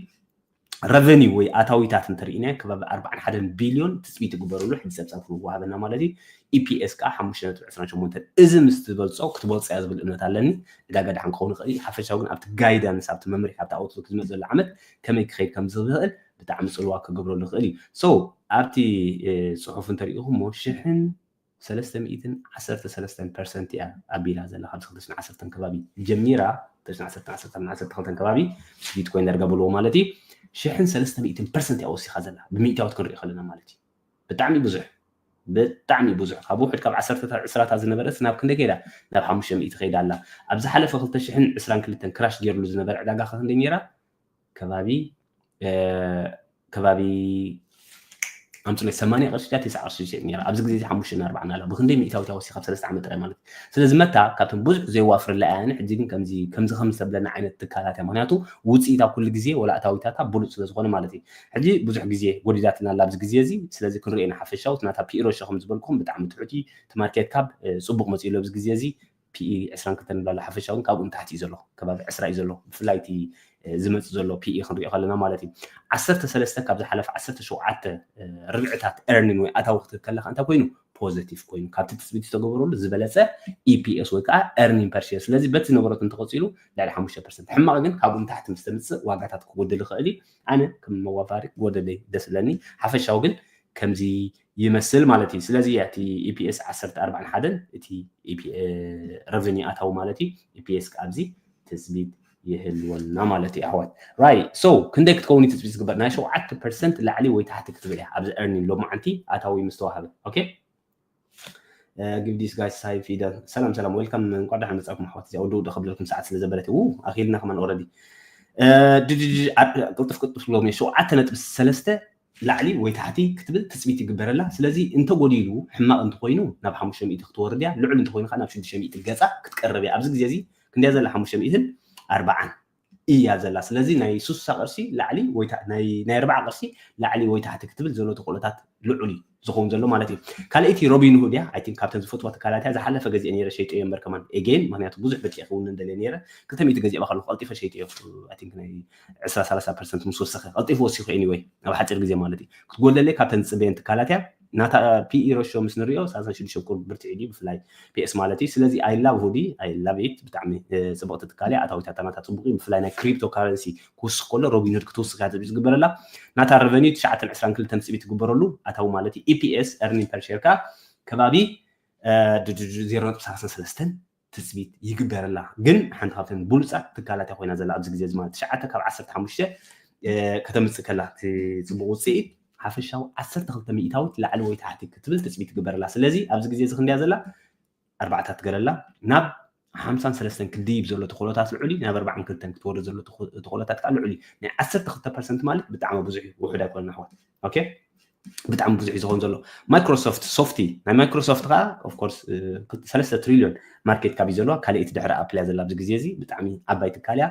ረቨኒው ወይ ኣታዊታት እንተርኢናዮ ከባቢ ኣርባዓን ሓደን ቢልዮን ትፅቢት ይግበረሉ ሕጂ ፀብፃብ ክንወሃበና ማለት እዩ ኢፒኤስ ከዓ ሓሙሽተ ነጥቢ ዕስራን ሸሞንተን እዚ ምስ ትበልፆ ክትበልፆ እያ ዝብል እምነት ኣለኒ ዕዳጋ ድሓን ክኸውን ይኽእል እዩ ሓፈሻዊ ግን ኣብቲ ጋይዳንስ ኣብቲ መምርሒ ኣብቲ ኣውትሎክ ዝመፅ ዘሎ ዓመት ከመይ ክኸይድ ከም ዝኽእል ብጣዕሚ ፅልዋ ክገብረሉ ይኽእል እዩ ሶ ኣብቲ ፅሑፍ እንተሪኢኹሞ ሽሕን ሰለስተ ሚእትን ዓሰርተ ሰለስተን ፐርሰንት እያ ኣቢላ ዘላ ካብዚ ክልተ ሽሕን ዓሰርተን ከባቢ ጀሚራ ክልተ ሽሕን ዓሰርተ ዓሰርተ ክሳብ ዓሰርተ ክልተን ከባቢ ቢትኮይን ዳርጋ በልዎ ማለት እዩ ሽሕን ሰለስተ ሚእትን ፐርሰንት እያ ወሲኻ ዘላ ብሚእታዎት ክንሪኦ ከለና ማለት እዩ ብጣዕሚ ብዙሕ ብጣዕሚ ብዙሕ ካብ ውሕድ ካብ ዓሰርተታት ዕስራታት ዝነበረት ናብ ክንደይ ከይዳ ናብ ሓሙሽተ ሚእቲ ከይዳ ኣላ ኣብ ዝሓለፈ ክልተ ሽሕን ዕስራን ክልተን ክራሽ ገይርሉ ዝነበረ ዕዳጋ ክንደይ ነይራ ከባቢ ከባቢ ኣምፅሎይ ሰማንያ ቅርሺ ድያ ትስዓ ቅርሺ ዝሸጥ ነይራ ኣብዚ ግዜ ሓሙሽተ ናርባዕን ኣላ ብክንደይ ሚእታዊት ኣወሲኻ ኣብ ሰለስተ ዓመት ጥራይ ማለት እዩ ስለዚ መታ ካብቶም ብዙሕ ዘየዋፍረላ እያ ሕጂ ግን ከምዚ ከምዚ ከምዚ ተብለና ዓይነት ትካላት እያ ምክንያቱ ውፅኢታ ኩሉ ግዜ ወላ እታዊታታ ብሉፅ ስለ ዝኾነ ማለት እዩ ሕጂ ብዙሕ ግዜ ጎዲዳትና ኣላ ኣብዚ ግዜ እዚ ስለዚ ክንሪኦ ኢና ሓፈሻውት ናታ ፒኢሮ ሸኸም ዝበልኩም ብጣዕሚ ትሑት እዩ እቲ ማርኬት ካብ ፅቡቅ መፅኡ ኣሎ ኣብዚ ግዜ እዚ PE ዕስራን ክልተን ንብላ ኣላ ሓፈሻ ውን ካብኡ ንታሕቲ እዩ ዘሎ ከባቢ ዕስራ እዩ ዘሎ ብፍላይ እቲ ዝመጽእ ዘሎ PE ክንሪኦ ከለና ማለት እዩ ዓሰርተ ሰለስተ ካብ ዝሓለፈ ዓሰርተ ሸውዓተ ርብዕታት ኤርኒን ወይ ኣታዊ ክትህብ ከለካ እንታይ ኮይኑ ፖዘቲቭ ኮይኑ ካብቲ ትፅቢት ዝተገበረሉ ዝበለፀ ኢፒኤስ ወይ ከዓ ኤርኒን ፐርሼር ስለዚ በቲ ዝነበረት እንተቐፂሉ ልዕሊ ሓሙሽተ ፐርሰንት ሕማቕ ግን ካብኡ ንታሕቲ ምስ ተምፅእ ዋጋታት ክጎድል ይኽእል እዩ ኣነ ከም መዋፋሪ ጎደለይ ደስ ለኒ ሓፈሻዊ ግን ከምዚ ይመስል ማለት እዩ ስለዚ እያ እቲ ኢፒኤስ ዓሰርተ ኣርባዕን ሓደን እቲ ረቨኒ ኣታዊ ማለት እዩ ኢፒኤስ ከዓ ኣብዚ ትፅቢት ይህልወና ማለት እዩ ኣሕዋት ራይ ሶ ክንደይ ክትከውን እዩ ትፅቢት ዝግበር ናይ ሸውዓተ ፐርሰንት ላዕሊ ወይ ታሕቲ ክትብል እያ ኣብዚ ኤርኒን ሎሚ ዓንቲ ኣታዊ ምስተዋሃበ ኦኬ ጊቭ ዲስ ጋይስ ሳይ ፊደል ሰላም ሰላም ዌልካም እንኳዕ ደሓን መፃእኩም ኣሕዋት እዚኣ ወዲ ውዲ ከብለልኩም ሰዓት ስለ ዘበለት ው ኣኺልና ከማን ኦረዲ ቅልጥፍ ቅልጥፍ ሎም ሸውዓተ ነጥቢ ሰለስተ ላዕሊ ወይ ታሕቲ ክትብል ትጽቢት ይግበረላ ስለዚ እንተ ጎዲሉ ሕማቅ እንተ ኮይኑ ናብ ሓሙሽተ ሚእቲ ክትወርድ እያ ልዑል እንተ ኮይኑ ከኣ ናብ ሽዱሽተ ሚእቲ ገጻ ክትቀርብ እያ ኣብዚ ግዜ እዚ ክንደይ እያ ዘላ ሓሙሽተ ሚእትን ኣርባዓን እያ ዘላ ስለዚ ናይ ሱሳ ቅርሲ ላዕሊ ወይ ናይ ናይ ኣርባዓ ቅርሲ ላዕሊ ወይ ታሕቲ ክትብል ዘሎ ተክእሎታት ልዑል እዩ ዝኸውን ዘሎ ማለት እዩ ካልኣይቲ ሮቢን ሁድ እያ ኣይቲንክ ካብተን ዝፈትዋ ትካላት እያ ዝሓለፈ ገዚኤ ነይረ ሸይጠዮ እምበር ከማን ኤጌን ምክንያቱ ብዙሕ ብጥዒ ክውንን ደልየ ነይረ ክልተ ሚእቲ ገዚኤባ ከለኩ ቀልጢፈ ሸይጠዮ ኣይቲንክ ናይ ዕስራ ሰላሳ ፐርሰንት ምስ ወሰኸ ቀልጢፉ ወሲኹ ኤኒወይ ኣብ ሓፂር ግዜ ማለት እዩ ክትጎድለለይ ካብተን ዝፅበየን ትካላት እያ ናታ ፒኢ ረሾ ምስ ንሪኦ ሳልሳን ሽዱሽተ ቁርብ ብርትዒ ድዩ ብፍላይ ፒኤስ ማለት እዩ ስለዚ ኣይላቭ ሁዲ ኣይላቭ ኢት ብጣዕሚ ፅብቕቲ ትካል እያ ኣታዊታታ ናታ ፅቡቅ እዩ ብፍላይ ናይ ክሪፕቶ ካረንሲ ክውስኽ ከሎ ሮቢንሁድ ክትውስኽ እያ ትፅቢት ዝግበረላ ናታ ረቨኒዩ ትሽዓተን ዕስራን ክልተን ትፅቢት ትግበረሉ ኣታዊ ማለት እዩ ኢፒኤስ ኤርኒን ፐርሼር ከዓ ከባቢ ዜሮ ነጥቢ ሰላሳን ሰለስተን ትፅቢት ይግበረላ ግን ሓንቲ ካብተን ብሉፃት ትካላት እያ ኮይና ዘላ ኣብዚ ግዜ እዚ ማለት ትሽዓተ ካብ ዓሰርተ ሓሙሽተ ከተምፅእ ከላ እቲ ፅቡቅ ውፅኢት ሓፈሻዊ ዓሰርተ ክልተ ሚእታዊት ላዕሊ ወይ ታሕቲ ክትብል ትፅቢት ይግበረላ ስለዚ ኣብዚ ግዜ እዚ ክንደያ ዘላ ኣርባዕታት ገለላ ናብ ሓምሳን ሰለስተን ክድይብ ዘሎ ተኽእሎታት ልዑል እዩ ናብ ኣርባዓን ክልተን ክትወርድ ዘሎ ተኽእሎታት ከዓ ልዑል እዩ ናይ ዓሰርተ ክልተ ፐርሰንት ማለት ብጣዕሚ ብዙሕ እዩ ውሑድ ኣይኮነን ኣሕዋት ኦኬ ብጣዕሚ ብዙሕ እዩ ዝኸውን ዘሎ ማይክሮሶፍት ሶፍቲ ናይ ማይክሮሶፍት ከዓ ኦፍኮርስ ሰለስተ ትሪልዮን ማርኬት ካብ እዩ ዘለዋ ካልኣይቲ ድሕሪ ኣፕል እያ ዘላ ኣብዚ ግዜ እዚ ብጣዕሚ ዓባይ ትካል እያ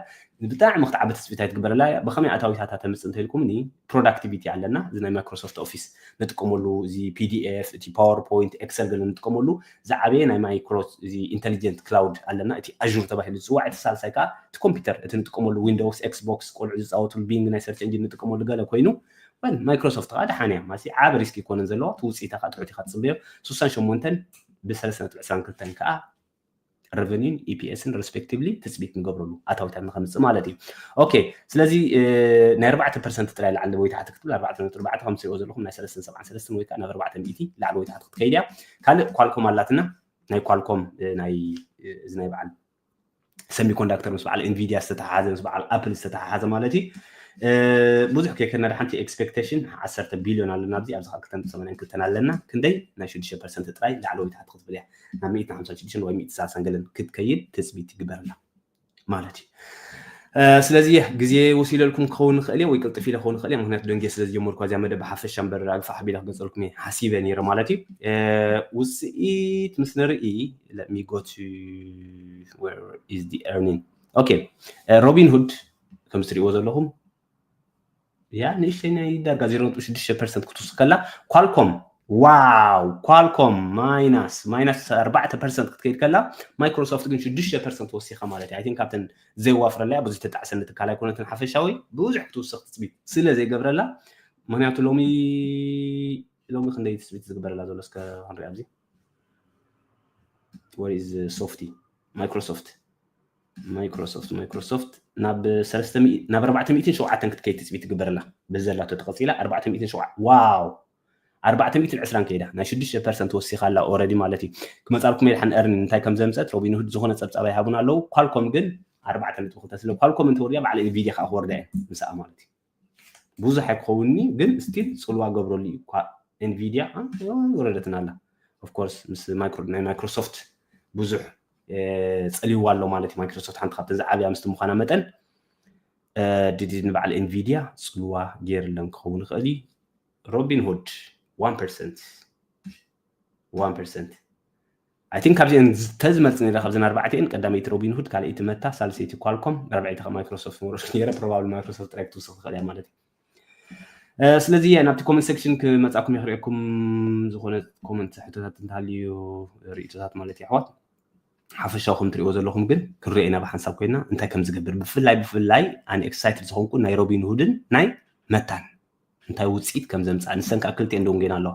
ብጣዕሚ ክትዓቢ ትጽቢት ኣይትግበርላ እያ ብከመይ ኣታዊታታ ተምጽእ እንተኢልኩምኒ ፕሮዳክቲቪቲ ኣለና እዚ ናይ ማይክሮሶፍት ኦፊስ ንጥቀመሉ እዚ ፒዲኤፍ እቲ ፓወር ፖይንት ኤክሰል ገለ ንጥቀመሉ ዝዓበየ ናይ ማይክሮ እዚ ኢንተሊጀንት ክላውድ ኣለና እቲ ኣዡር ተባሂሉ ዝጽዋዕ እቲ ሳልሳይ ከዓ እቲ ኮምፒውተር እቲ ንጥቀመሉ ዊንዶውስ ኤክስቦክስ ቆልዑ ዝጻወትሉ ቢንግ ናይ ሰርች እንጂን ንጥቀመሉ ገለ ኮይኑ ወል ማይክሮሶፍት ከዓ ደሓን እያ ማለት ዓቢ ሪስክ ይኮነን ዘለዋ እቲ ውጽኢታ ከዓ ጥዑት ኢካ ትጽበዮ 68 ብ3.22 ከዓ ረቨኒን ኢፒኤስን ሬስፔክቲቭሊ ትፅቢት ንገብረሉ ኣታዊታት ንከምፅእ ማለት እዩ ኦኬ ስለዚ ናይ ኣርባዕተ ፐርሰንት ጥራይ ላዕሊ ወይ ታሕቲ ክትብል ኣርባዕተ ነጥቢ ኣርባዕተ ከም ትሪኦ ዘለኹም ናይ ሰለስተን ሰብዓን ሰለስተን ወይ ከዓ ናብ ኣርባዕተ ሚእቲ ላዕሊ ወይ ታሕቲ ክትከይድ እያ ካልእ ኳልኮም ኣላትና ናይ ኳልኮም ናይ እዚ ናይ በዓል ሰሚኮንዳክተር ምስ በዓል ኤንቪድያ ዝተተሓሓዘ ምስ በዓል ኣፕል ዝተተሓሓዘ ማለት እዩ ብዙሕ ከይከነዳ ሓንቲ ኤክስፔክቴሽን ዓሰርተ ቢልዮን ኣለና ኣብዚ ኣብዚ ካብ ክልተን ሰማንያን ክልተን ኣለና ክንደይ ናይ ሽዱሽተ ፐርሰንት ጥራይ ላዕለወይ ታሕቲ ክትብል እያ ናብ ሚእቲ ሓምሳን ሽዱሽተን ወይ ሚእቲ ሳልሳን ገለን ክትከይድ ትፅቢት ይግበረላ ማለት እዩ ስለዚ ግዜ ወሲደልኩም ክኸውን ይኽእል እየ ወይ ቅልጥፍ ኢለ ክኸውን ይኽእል እየ ምክንያቱ ደንጌ ስለ ዝጀመርኩ እዚኣ መደብ ብሓፈሻ እምበር ኣግፋሕ ኣቢለ ክገልፀልኩም እየ ሓሲበ ነይረ ማለት እዩ ውፅኢት ምስ ንርኢ ለሚጎት ኦኬ ሮቢን ሁድ ከም ትሪእዎ ዘለኹም እያ ንእሽተይ ናይ ዳጋ 0.6 ፐርሰንት ክትውስኽ ከላ ኳልኮም ዋው ኳልኮም ማይናስ ማይናስ 4 ፐርሰንት ክትከይድ ከላ ማይክሮሶፍት ግን 6 ፐርሰንት ወሲኻ ማለት እዩ ኣይን ካብተን ዘይዋፍረላያ ብዙ ተጣዕሰኒ ትካል ኣይኮነትን ሓፈሻዊ ብዙሕ ክትውስኽ ትፅቢት ስለ ዘይገብረላ ምክንያቱ ሎሚ ሎሚ ክንደይ ትፅቢት ዝግበረላ ዘሎ እስከ ክንሪኣ ኣብዚ ወሪዝ ሶፍቲ ማይክሮሶፍት ማይክሮሶፍት ማይክሮሶፍት ናብ ሰለስተ ሚእ- ናብ ኣርባዕተ ሚእትን ሸውዓተን ክትከይድ ትፅቢት ትግበረላ በዚ ዘላቶ ተቐፂላ ኣርባዕተ ሚእትን ሸውዓ ዋው ኣርባዕተ ሚእትን ዕስራን ከይዳ ናይ ሽዱሽተ ፐርሰንት ወሲኻ ኣላ ኦረዲ ማለት እዩ ክመፃልኩም የድሓን እርኒን እንታይ ከም ዘምፀት ሮቢንሁድ ዝኾነ ፀብፃብ ኣይሃቡን ኣለዉ ኳልኮም ግን ኣርባዕተ ነጥቢ ክልተ ስለ ኳልኮም እንተወሪዳ ባዕላ ኢንቪድያ ከዓ ክወርዳ እየን ምስኣ ማለት እዩ ብዙሕ ኣይክኸውንን እዩ ግን ስቲል ፅልዋ ገብረሉ እዩ እኳ ኤንቪድያ ወረደትና ኣላ ኦፍኮርስ ምስ ናይ ማይክሮሶፍት ብዙሕ ፀልይዋ ኣሎ ማለት እዩ ማይክሮሶፍት ሓንቲ ካብተን ዝዓብያ ምስቲ ምዃና መጠን ድድ ንበዓል ኤንቪድያ ፅልዋ ገይርለን ክኸውን ይኽእል እዩ ሮቢን ሁድ ዋን ፐርሰንት ዋን ፐርሰንት ኣይ ቲንክ ካብዚኤን ተዝመርጽ ነይረ ካብዘን ኣርባዕተኤን ቀዳመይቲ ሮቢንሁድ ካልኣይቲ መታ ሳልሰይቲ ኳልኮም ራብዐይቲ ካብ ማይክሮሶፍት ምወረዱ ነይረ ፕሮባብሊ ማይክሮሶፍት ጥራይ ክትውስኽ ትኽእል እያ ማለት እዩ ስለዚ ናብቲ ኮመንት ሴክሽን ክመጻኩም እየ ክርእየኩም ዝኾነ ኮመንት ሕቶታት እንተሃልዩ ርእቶታት ማለት እዩ ኣሕዋት ሓፈሻዊ ከም ትሪእዎ ዘለኹም ግን ክንሪኦ ኢና ብሓንሳብ ኮይና እንታይ ከም ዝገብር ብፍላይ ብፍላይ ኣነ ኤክሳይትድ ዝኾንኩ ናይ ሮቢንሁድን ናይ መታን እንታይ ውፅኢት ከም ዘምፅኣ ንሰን ከዓ ክልቲኤን ደንጌና ኣለዋ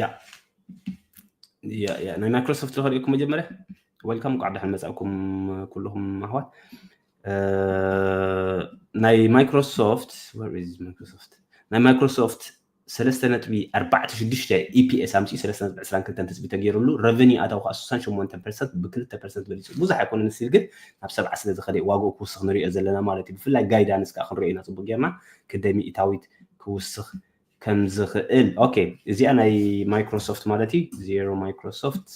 ያ ያ ያ ናይ ማይክሮሶፍት ዝኸሪእኩም መጀመርያ ወልካም ቋዕ ደሓን መጻእኩም ኩልኹም ኣሕዋት ናይ ማይክሮሶፍት ማይክሮሶፍት ናይ ማይክሮሶፍት ሰለስተ ነጥቢ ኣርባዕተ ሽዱሽተ ኢፒኤስ ኣምፅኡ ሰለስተ ነጥቢ ዕስራን ክልተን ትፅቢ ተገይሩሉ ረቨኒ ኣታዊ ከዓ ስሳን ሸሞንተ ፐርሰንት ብክልተ ፐርሰንት በሊፁ ብዙሕ ኣይኮነን ስል ግን ናብ ሰብዓ ስለ ዝኸደ ዋግኡ ክውስኽ ንሪኦ ዘለና ማለት እዩ ብፍላይ ጋይዳንስ ከዓ ክንሪኦ ኢና ፅቡቅ ጌርና ክንደይ ሚእታዊት ክውስኽ ከም ዝኽእል ኦኬ እዚኣ ናይ ማይክሮሶፍት ማለት እዩ ዜሮ ማይክሮሶፍት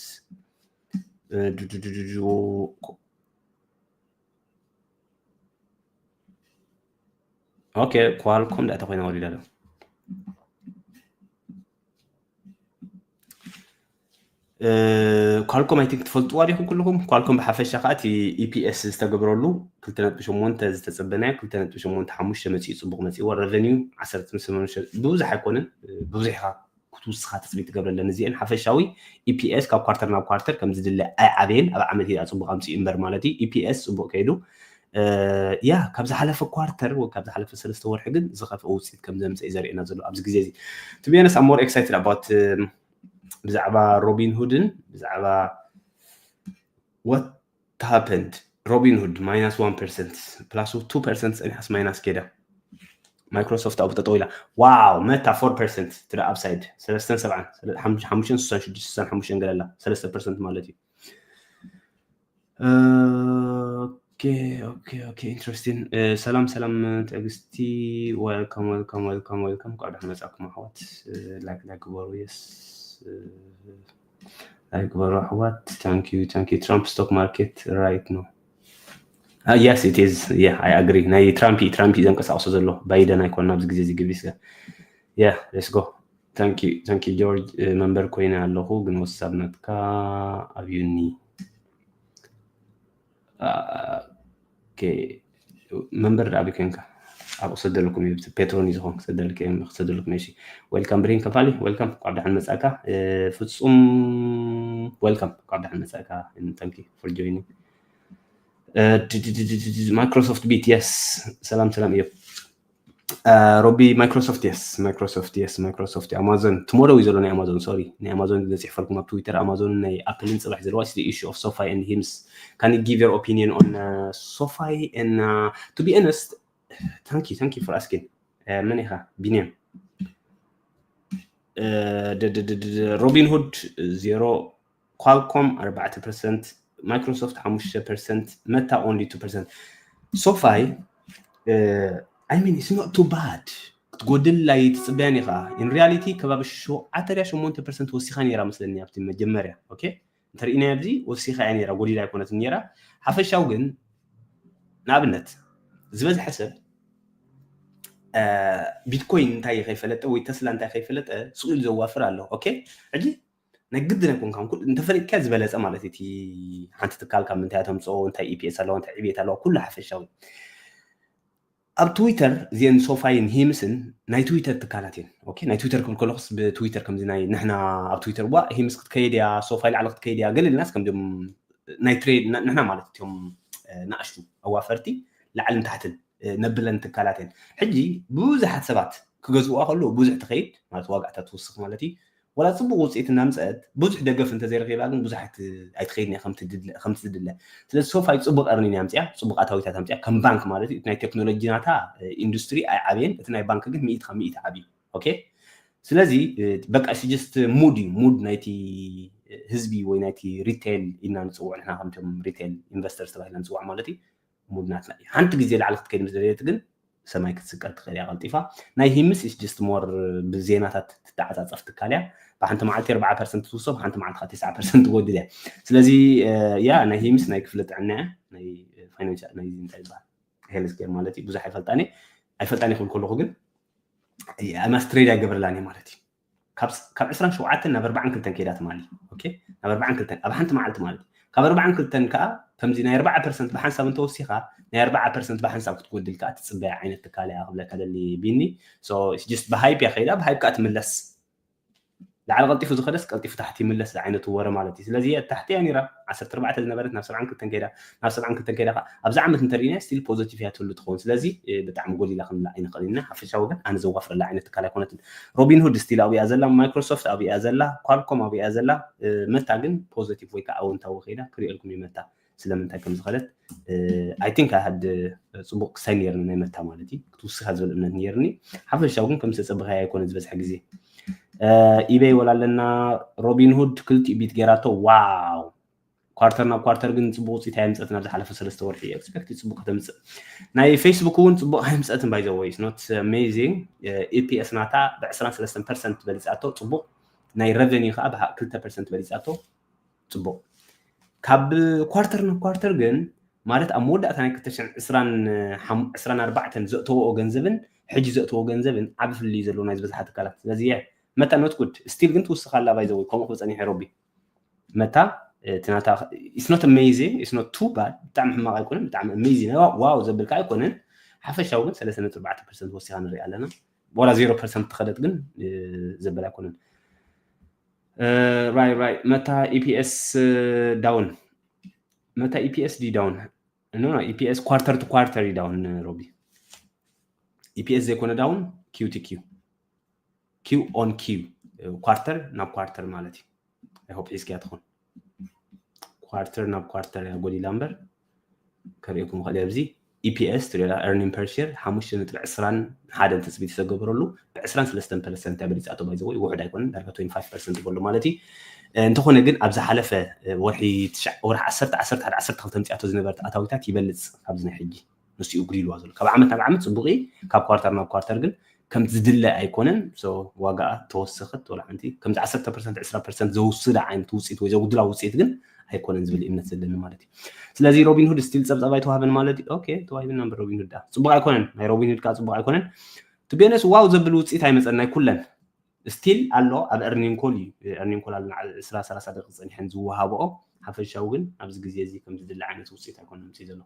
ኦኬ ኳልኮም ዳእታ ኮይና ወሊዳ ኣሎ ኳልኮም ኣይ ቲንክ ትፈልጥዋ ዲኹም ኩልኹም ኳልኮም ብሓፈሻ ከዓ እቲ ኢፒኤስ e ዝተገብረሉ 2.8 ዝተፀበናዮ 2.85 መፂኡ ፅቡቅ መፂዎ ረቨኒዩ 18 ብብዙሕ ኣይኮነን ብብዙሕ ኢኻ ክትውስኻ ትፅቢት ትገብረለን እዚአን ሓፈሻዊ ኢፒኤስ e ካብ ኳርተር ናብ ኳርተር ከም ዝድለ ኣይዓበየን ኣብ ዓመት ያ ፅቡቅ ኣምፅኡ እምበር ማለት እዩ ኢፒኤስ e ፅቡቅ ከይዱ ያ ካብ ዝሓለፈ ኳርተር ወይ ካብ ዝሓለፈ ሰለስተ ወርሒ ግን ዝኸፍአ ውፅኢት ከም ዘምፀ እዩ ዘርእየና ዘሎ ኣብዚ ግዜ እዚ ቱ ቢያነስ ኣብ ሞር ኤክሳይትድ ኣባት ብዛዕባ ሮቢን ሁድን ብዛዕባ what happened ሮቢን ሁድ ማይናስ 1 ፐርሰንት ፕላስ 2 ፐርሰንት ፀኒሓስ ማይናስ ኬዳ ማይክሮሶፍት ኣብኡ ጠጠው ኢላ ዋው መታ 4 ፐርሰንት ትደ ኣብሳይድ ሰለስተን ሰብዓን ሓሙሽተን ስሳን ሽዱሽተ ስሳን ሓሙሽተን ገለላ ሰለስተ ፐርሰንት ማለት እዩ ኢንትረስቲን ሰላም ሰላም ትዕግስቲ ወልካም ወልካም ወልካም ወልካም ኳዕ ደሓን መጻእኩም ኣሕዋት ላይክ ላይክ ግበሩ የስ ላይክ ግበሩ ኣሕዋት ታንክ ዩ ታንክ ዩ ትራምፕ ስቶክ ማርኬት ራይት ነው የስ ኢት ኢዝ ያ ኣይ ኣግሪ ናይ ትራምፕ ትራምፕ ዘንቀሳቅሶ ዘሎ ባይደን ኣይኮን ኣብዚ ግዜ እዚ ግብሪስ ያ ሌትስ ጎ Thank you thank you ጆርጅ መንበር ኮይነ ኣለኹ ግን ወሳብ ናትካ ኣብዩኒ መንበር ድኣ ኣበይ ኮንካ ኣብ ክሰደልኩም እዩ ፔትሮን እዩ ዝኾን ክሰደልክ እዮም ክሰደልኩም እሺ ዌልካም ብሬን ከፋሊ ዌልካም ኳብ ዳሓን መጻእካ ፍጹም ዌልካም ኳብ ዳሓን መጻእካ ታንኪ ፎር ጆይኒ ማይክሮሶፍት ቢት የስ ሰላም ሰላም እዮም ሮቢ ማይክሮሶፍት የስ ማይክሮሶፍት የስ ማይክሮሶፍት ኣማዞን ትሞሮ እዩ ዘሎ ናይ ኣማዞን ሶሪ ናይ ኣማዞን ዘፅሕፈልኩም ኣብ ትዊተር ኣማዞንን ናይ ኣፕልን ፅባሕ ዘለዋ ስ ኢሹ ኦፍ ሶፋይ ን ሂምስ ካን ጊቭ ዮር ኦፒኒየን ኦን ሶፋይ ን ቱ ቢ ኦነስት ታንክ ዩ ታንክ ዩ ፎር ኣስኪን መን ኢኻ ቢንያም ሮቢንሁድ ዜሮ ኳልኮም ኣርባዕተ ፐርሰንት ማይክሮሶፍት ሓሙሽተ ፐርሰንት መታ ኦንሊ ቱ ፐርሰንት ሶፋይ ኣይ ሚን ኢትስ ኖት ቱ ባድ ክትጎድል ላይ ትፅበያን ኢኻ ኢን ሪያሊቲ ከባቢ ሸውዓተ ድያ ሸሞንተ ፐርሰንት ወሲኻ ነይራ መስለኒ ኣብቲ መጀመርያ ኦኬ እንተርእናዮ ኣብዚ ወሲኻ እያ ነይራ ጎዲላ ኣይኮነት ነይራ ሓፈሻው ግን ንኣብነት ዝበዝሐ ሰብ ቢትኮይን እንታይ ከይፈለጠ ወይ ተስላ እንታይ ከይፈለጠ ስኢሉ ዘዋፍር ኣሎ ኦኬ ሕጂ ናይ ግድን ኣይኮንካን ኩሉ እንተፈሊጥካ ዝበለፀ ማለት እዩ እቲ ሓንቲ ትካል ካብ ምንታይ ተምፅኦ እንታይ ኢፒኤስ ኣለዋ እንታይ ዕብየት ኣለዋ ኩሉ ሓፈሻዊ ኣብ ትዊተር እዚአን ሶፋይን ሂምስን ናይ ትዊተር ትካላት እየን ኦኬ ናይ ትዊተር ክብል ከለኹስ ብትዊተር ከምዚ ናይ ንሕና ኣብ ትዊተር ዋ ሂምስ ክትከይድ እያ ሶፋይ ላዕሊ ክትከይድ እያ ገለ ኢልናስ ከምዚኦም ናይ ትሬድ ንሕና ማለት እትዮም ንኣሽቱ ኣዋፈርቲ ላዕልን ታሕትን ነብለን ትካላት እየን ሕጂ ብዙሓት ሰባት ክገዝእዋ ከለዉ ብዙሕ ትኸይድ ማለት ዋጋእታ ትውስኽ ማለት እዩ ዋላ ጽቡቕ ውጽኢት እናምጸእት ብዙሕ ደገፍ እንተዘይረኺባ ግን ብዙሕ ኣይትኸይድን እያ ከምቲ ዝድለ። ስለዚ ሶፋይ ጽቡቕ ኤርኒን እያ ኣምጺኣ፣ ጽቡቕ ኣታዊታት ኣምጺኣ፣ ከም ባንክ ማለት እዩ። እቲ ናይ ቴክኖሎጂ ናታ ኢንዱስትሪ ኣይዓበየን፣ እቲ ናይ ባንክ ግን ሚእቲ ካብ ሚእቲ ዓብዩ። ኦኬ ስለዚ በቃ እሱ ጀስት ሙድ እዩ፣ ሙድ ናይቲ ህዝቢ ወይ ናይቲ ሪቴል ኢልና ንጽውዖ ንሕና ከምቶም ሪቴል ኢንቨስተርስ ተባሂልና ንጽዋዕ ማለት እዩ። ሙድ ናትና እዩ ሓንቲ ግዜ ላዕሊ ክትከይድ ምስ ደለየት ግን ሰማይ ክትስቀል ትኽእል እያ ቀልጢፋ ናይ ሂምስ ኢስ ጀስት ሞር ብዜናታት ትተዓፃፀፍ ትካል እያ ብሓንቲ መዓልቲ ኣርባዓ ፐርሰንት ትውስኽ ብሓንቲ መዓልቲ ከዓ ትስዓ ፐርሰንት ትጎድል እያ ስለዚ ያ ናይ ሂምስ ናይ ክፍሊ ጥዕና እያ ናይ ፋይናንሻል ናይ እንታይ ይበሃል ሄልዝ ኬር ማለት እዩ ብዙሕ ኣይፈልጣን እየ ኣይፈልጣን እየ ክብል ከለኹ ግን ኣማስትሬድ ኣይገብረላን እየ ማለት እዩ ካብ ዕስራን ሸውዓተን ናብ ኣርባዓን ክልተን ከይዳ ትማሊ ናብ ኣርባዓን ክልተን ኣብ ሓንቲ መዓልቲ ማለት እዩ ካብ ኣርባዓን ክልተን ከዓ ከምዚ ናይ ኣርባዓ ፐርሰንት ብሓንሳብ እንተወሲኻ ናይ ኣርባዓ ፐርሰንት ብሓንሳብ ክትጎድል ከዓ ትፅበያ ዓይነት ትካል እያ ክብለካ ደሊ ቢኒ ጅስት ብሃይፕ እያ ከይዳ ብሃይፕ ከዓ ትምለስ ላዕሊ ቀልጢፉ ዝኸደስ ቀልጢፉ ታሕቲ ይምለስ ዝዓይነቱ ወረ ማለት እዩ ስለዚ ታሕቲ እያ ነይራ ዓሰርተ ኣርባዕተ ዝነበረት ናብ ሰብዓን ክልተን ከይዳ ክሳብ ሰብዓን ክልተን ከይዳ ከኣ ኣብዚ ዓመት እንተ ርኢናያ ስቲል ፖዘቲቭ እያ ትህሉ ትኸውን ስለዚ ብጣዕሚ ጎሊላ ክንብላ ኣይንኽእልን ኢና ሓፈሻዊ ግን ኣነ ዘዋፍረላ ዓይነት ትካል ኣይኮነትን ሮቢንሁድ ስቲል ኣብኡ እያ ዘላ ማይክሮሶፍት ኣብኡ እያ ዘላ ኳልኮም ኣብኡ እያ ዘላ መታ ግን ፖዘቲቭ ወይ ከዓ ኣወንታዊ ከይዳ ክሪኤልኩም እዩ መታ ስለምንታይ ከም ዝኸደት ኣይ ቲንክ ኣሃድ ፅቡቅ ክሳይ ነይርኒ ናይ መታ ማለት እዩ ክትውስኻ ዝብል እምነት ነይርኒ ሓፈሻዊ ግን ከም ዝተፀበኻዮ ኣይኮነ ዝበዝሐ ግዜ ኢበይ ወላ ኣለና ሮቢንሁድ ክልቲኡ ቢት ገይራቶ ዋው ኳርተር ናብ ኳርተር ግን ፅቡቅ ውፅኢት ኣየምፀትን ኣብ ዝሓለፈ ሰለስተ ወርሒ ኤክስፔክት ፅቡቅ ከተምፅእ ናይ ፌስቡክ እውን ፅቡቅ ኣየምፀትን ባይ ዘወይ ኖት ኣሜዚንግ ኢፒኤስ ናታ ብ23 ፐርሰንት በሊፃቶ ፅቡቅ ናይ ረቨኒ ከዓ ብ2 ፐርሰንት በሊፃቶ ፅቡቅ ካብ ኳርተር ናብ ኳርተር ግን ማለት ኣብ መወዳእታ ናይ 224 ዘእተወኦ ገንዘብን ሕጂ ዘእተዎ ገንዘብን ዓብ ፍልልዩ ዘለዎ ናይ ዝበዝሓ ትካላት ስለዚ መታ ኖት ጉድ ስቲል ግን ትውስኻ ኣላ ባይ ዘወይ ከምኡ ክፀኒሐ ሮቢ መታ እቲ ናታ ኢትስ ኖት ኣሜዚንግ ኢትስ ኖት ቱ ባድ ብጣዕሚ ሕማቕ ኣይኮነን ብጣዕሚ ኣሜዚንግ ናይ ዋው ዘብል ከዓ ኣይኮነን ሓፈሻዊ ግን ሰለስተ ነጥቢ ኣርባዕተ ፐርሰንት ወሲኻ ንሪኣ ኣለና ዋላ ዜሮ ፐርሰንት ተኸደት ግን ዘበል ኣይኮነን ራይ ራይ መታ ኢፒኤስ ዳውን መታ ኢፒኤስ ዲ ዳውን ኖ ኢፒኤስ ኳርተር ቱ ኳርተር ዳውን ሮቢ ኢፒኤስ ዘይኮነ ዳውን ኪዩ ቲ ኪዩ ኪው ኦን ኪው ኳርተር ናብ ኳርተር ማለት እዩ ኣይሆፕ ሒዝክያ ትኾን ኳርተር ናብ ኳርተር እያ ጎዲላ እምበር ከርእኩም ኽእል ኣብዚ ኢፒኤስ ትሪላ ኤርኒን ፐርሽር ሓሙሽተ ነጥቢ ዕስራን ሓደን ትፅቢት ዝተገበረሉ ብዕስራን ሰለስተን ፐርሰንት እያ በሊፃቶ ባይዘወይ ውሑድ ኣይኮነን ዳርጋ ትወንቲ ፋይቭ ፐርሰንት ይበሎ ማለት እዩ እንተኾነ ግን ኣብ ዝሓለፈ ወርሒ ወርሒ ዓሰርተ ዓሰርተ ሓደ ዓሰርተ ክልተ ምፅያቶ ዝነበረት ኣታዊታት ይበልፅ ካብዚ ናይ ሕጂ ንሱ እዩ ጉዲልዋ ዘሎ ካብ ዓመት ናብ ዓመት ፅቡቅ እዩ ካብ ኳርታር ናብ ኳርታር ግን ከምቲ ዝድለ ኣይኮነን ዋጋኣ ተወሰኸት ወላ ሓንቲ ከምዚ 10 ፐርሰንት 20 ፐርሰንት ዘውስዳ ዓይነት ውፅኢት ወይ ዘጉድላ ውፅኢት ግን ኣይኮነን ዝብል እምነት ዘለኒ ማለት እዩ ስለዚ ሮቢንሁድ ስቲል ፀብፃብ ኣይተዋህበን ማለት እዩ ኦኬ ተዋሂብና እምበር ሮቢንሁድ ዳ ፅቡቅ ኣይኮነን ናይ ሮቢንሁድ ከዓ ፅቡቅ ኣይኮነን ትቤነስ ዋው ዘብል ውፅኢት ኣይመፀን ናይ ኩለን ስቲል ኣሎ ኣብ ኤርኒን ኮል እዩ ኤርኒን ኮል ኣለና ዕስራ ሰላሳ ደቂቅ ጸኒሐን ዝወሃብኦ ሓፈሻዊ ግን ኣብዚ ግዜ እዚ ከም ዝድለ ዓይነት ውጽኢት ኣይኮነን ምጽኢ ዘሎ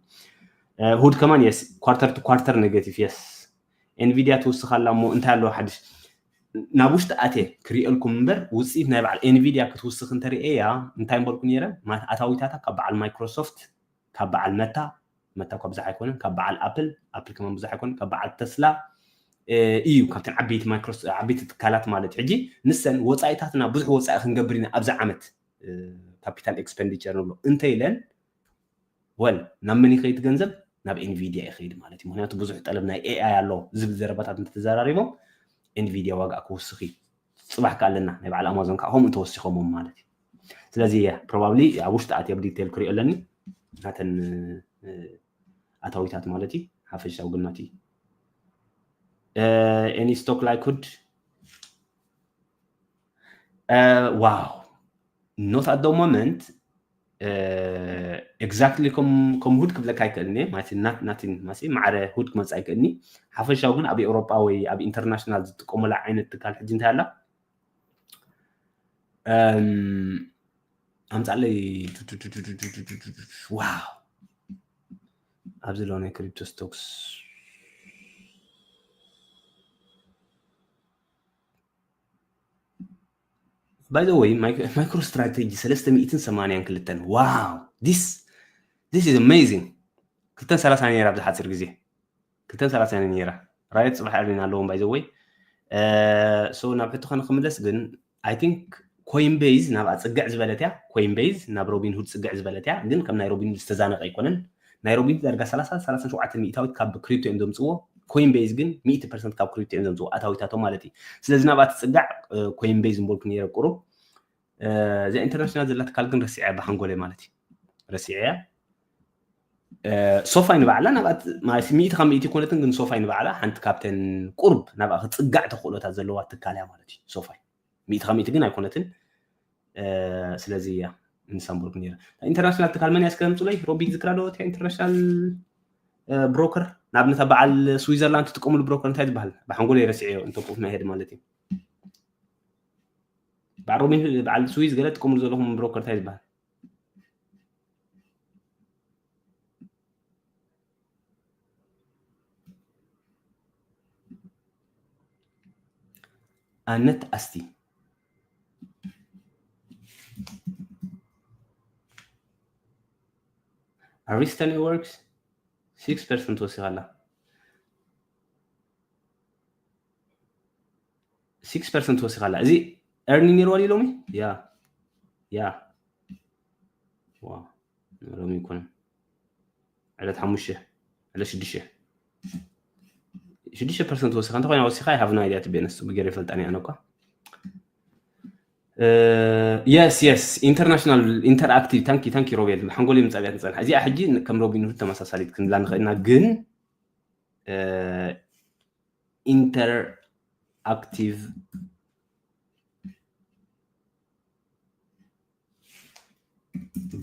ሁድ ከማን የስ ኳርተር ቱ ኳርተር ኔጌቲቭ የስ ኤንቪድያ ትውስኻ ኣላ እሞ እንታይ ኣለዎ ሓድሽ ናብ ውሽጢ ኣትየ ክሪኤልኩም እምበር ውፅኢት ናይ በዓል ኤንቪድያ ክትውስኽ እንተርእየያ እንታይ ምበልኩ ነይረ ኣታዊታታ ካብ በዓል ማይክሮሶፍት ካብ በዓል መታ፣ መታ እኳ ብዙሕ ኣይኮነን፣ ካብ በዓል ኣፕል፣ ኣፕል ከማን ብዙሕ ኣይኮነን፣ ካብ በዓል ተስላ፣ እዩ ካብተን ዓበይቲ ማይክሮስ ዓበይቲ ትካላት ማለት ሕጂ ንሰን ወጻኢታትና ብዙሕ ወጻኢ ክንገብር ኢና ኣብዚ ዓመት ካፒታል ኤክስፐንዲቸር ንብሎ እንተ ኢለን ወል ናብ መን ይኸይድ ገንዘብ ናብ ኤንቪድያ ይኸይድ ማለት እዩ ምክንያቱ ብዙሕ ጠለብ ናይ ኤኣይ ኣሎ ዝብል ዘረባታት እንተተዘራሪቦም ኤንቪድያ ዋጋኣ ክውስኽ እዩ ጽባሕ ከኣ ኣለና ናይ በዓል ኣማዞን ከኣ ከምኡ ተወሲኾሞም ማለት እዩ ስለዚ ፕሮባብሊ ኣብ ውሽጢ ኣትየ ብ ዲቴል ክሪኦ ኣለኒ ናተን ኣታዊታት ማለት እዩ ሓፈሻዊ ግምት እዩ ኤኒ ስቶክ ላይክሁድ ዋው ኖት ኣት ሞመንት ኤግዛክትሊ ከም ሁድ ክብለካ ኣይክእልን እየ ማለት ናት ናቲን ማሲ ማዕረ ሁድ ክመፅእ ኣይክእልኒ ሓፈሻዊ ግን ኣብ ኤውሮጳ ወይ ኣብ ኢንተርናሽናል ዝጥቀሙላ ዓይነት ትካል ሕጂ እንታይ ኣላ ኣምፃለይ ዋው ኣብዚ ሎ ናይ ክሪፕቶ ስቶክስ ባይ ዘ ወይ ማይክሮ ስትራቴጂ ሰለስተ ሚእትን ሰማንያን ክልተን ዋው ዲስ ዲስ ኢዝ ኣሜዚንግ ክልተን ሰላሳ ነይራ ኣብዚ ሓፂር ግዜ ክልተን ሰላሳ ነይራ ራየት ፅባሕ ዕርኒና ኣለዎም ባይ ዘ ወይ ሶ ናብ ሕቶ ከንክምለስ ግን ኣይ ቲንክ ኮይን ቤዝ ናብኣ ፅግዕ ዝበለት እያ ኮይን ቤዝ ናብ ሮቢን ሁድ ፅግዕ ዝበለት እያ ግን ከም ናይ ሮቢን ሁድ ዝተዛነቀ ኣይኮነን ናይ ሮቢት ዳርጋ ሰላሳ፣ ሰላሳን ሸውዓተን ሚኢታዊት ካብ ክሪፕቶ እዮም ዘምጽዎ፣ ኮይንበይዝ ግን ሚእቲ ፐርሰንት ካብ ክሪፕቶ እዮም ዘምጽዎ ኣታዊታቶም ማለት እዩ። ስለዚ ናብኣ ትጽጋዕ ኮይንበይዝ ምበልኩ ነይረ ቁሩብ። እዛ ኢንተርናሽናል ዘላ ትካል ግን ረሲዐያ ብሓንጎለይ ማለት እዩ። ረሲዐያ። ሶፋይ ንባዕላ ናብኣ ማለት ሚእቲ ካብ ሚእቲ ኮነትን ግን ሶፋይ ንባዕላ ሓንቲ ካብተን ቁርብ ናብኣ ክጽጋዕ ተኽእሎታት ዘለዋ ትካል እያ ማለት እዩ ሶፋይ። ሚእቲ ካብ ሚእቲ ግን ኣይኮነትን ስለዚ እያ ንሳምቡርግ ነይረ ኢንተርናሽናል ትካል መን እያ እስከ ምፅሎይ ሮቢት ዝክራ ዶ እቲያ ኢንተርናሽናል ብሮከር ንኣብነት ኣብ በዓል ስዊዘርላንድ ትጥቀምሉ ብሮከር እንታይ ዝበሃል ብሓንጎሎ የረስዐዮ እንተቁፍ ናይ ሄድ ማለት እዩ በዓል ሮቢን በዓል ስዊዝ ገለ ትጥቀምሉ ዘለኹም ብሮከር እንታይ ዝበሃል ኣነት ኣስቲ ኣሪስተ ኔትወርክስ ሲክስ ፐርሰንት ወሲኻ ኣላ ሲክስ ፐርሰንት ወሲኻ ኣላ እዚ ኤርኒ ነይርዋ ድዩ ሎሚ ያ ያ ዋ ሎሚ ይኮነን ዕለት ሓሙሽተ ዕለት ሽዱሽተ ሽዱሽተ ፐርሰንት ወሲኻ እንተኮይና ወሲኻ ይሃቭ ኖ ኣይዲያ ትቤ ነስ ብገር ይፈልጣን እያ ነኳ የስ የስ ኢንተርናሽናል ኢንተርኣክቲቭ ታንኪ ታንኪ ሮቤል ሓንጎል ምፃእ እያ ትፀንሓ እዚኣ ሕጂ ከም ሮቢን ሁድ ተመሳሳሊት ክንብላ ንኽእል ኢና ግን ኢንተርኣክቲቭ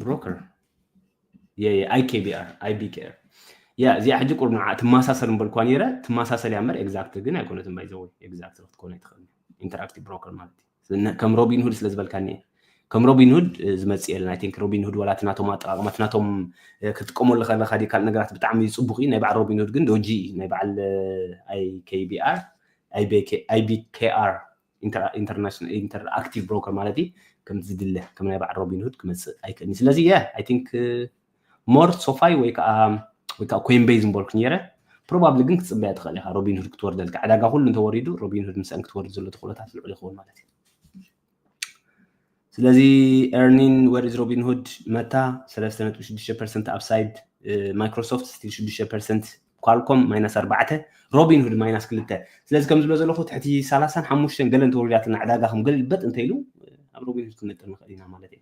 ብሮከር ኣይኬቢኣር ኣይቢኬር ያ እዚኣ ሕጂ ቁርብ ንዓ ትመሳሰል እምበልኳ ነይረ ትመሳሰል እያ እምበር ኤግዛክት ግን ኣይኮነትን ባይዘወ ኤግዛክት ክትኮነ ኣይትኽእል ኢንተራክቲቭ ብሮከር ማለት እዩ ከም ሮቢን ሁድ ስለ ዝበልካኒ እየ ከም ሮቢን ሁድ ዝመፅእ የለን ኣይንክ ሮቢን ሁድ ወላ ትናቶም ኣጠቃቅማ ትናቶም ክትጥቀመሉ ከለካ ዲ ካልእ ነገራት ብጣዕሚ ፅቡቅ እዩ ናይ በዓል ሮቢን ሁድ ግን ዶጂ እዩ ናይ በዓል ኣይኬቢኣር ኣይቢኬኣር ኢንተር ኣክቲቭ ብሮከር ማለት እዩ ከምቲ ዝድለ ከም ናይ በዓል ሮቢንሁድ ክመፅእ ኣይክእልን ስለዚ ያ ኣይ ቲንክ ሞር ሶፋይ ወይ ከዓ ወይ ከዓ ኮይንቤይ ዝምበልኩ ነይረ ፕሮባብሊ ግን ክትፅበያ ትኽእል ኢኻ ሮቢንሁድ ክትወርደልካ ዕዳጋ ኩሉ እንተወሪዱ ሮቢንሁድ ምስአን ክትወርድ ዘሎ ተኽእሎታት ልዑል ይኸውን ማለት እዩ ስለዚ ኤርኒን ወር ኢዝ ሮቢንሁድ መታ ሰለስተ ነጥቢ ሽዱሽተ ፐርሰንት ኣፕሳይድ ማይክሮሶፍት ስቲል ሽዱሽተ ፐርሰንት ኳልኮም ማይናስ ኣርባዕተ ሮቢን ሁድ ማይናስ ክልተ ስለዚ ከም ዝብሎ ዘለኹ ትሕቲ ሰላሳን ሓሙሽተን ገለ እንተወሪዳትና ዕዳጋ ከም ገልበጥ እንተ ኢሉ ኣብ ሮቢን ሁድ ክንነጥር ንኽእል ኢና ማለት እዩ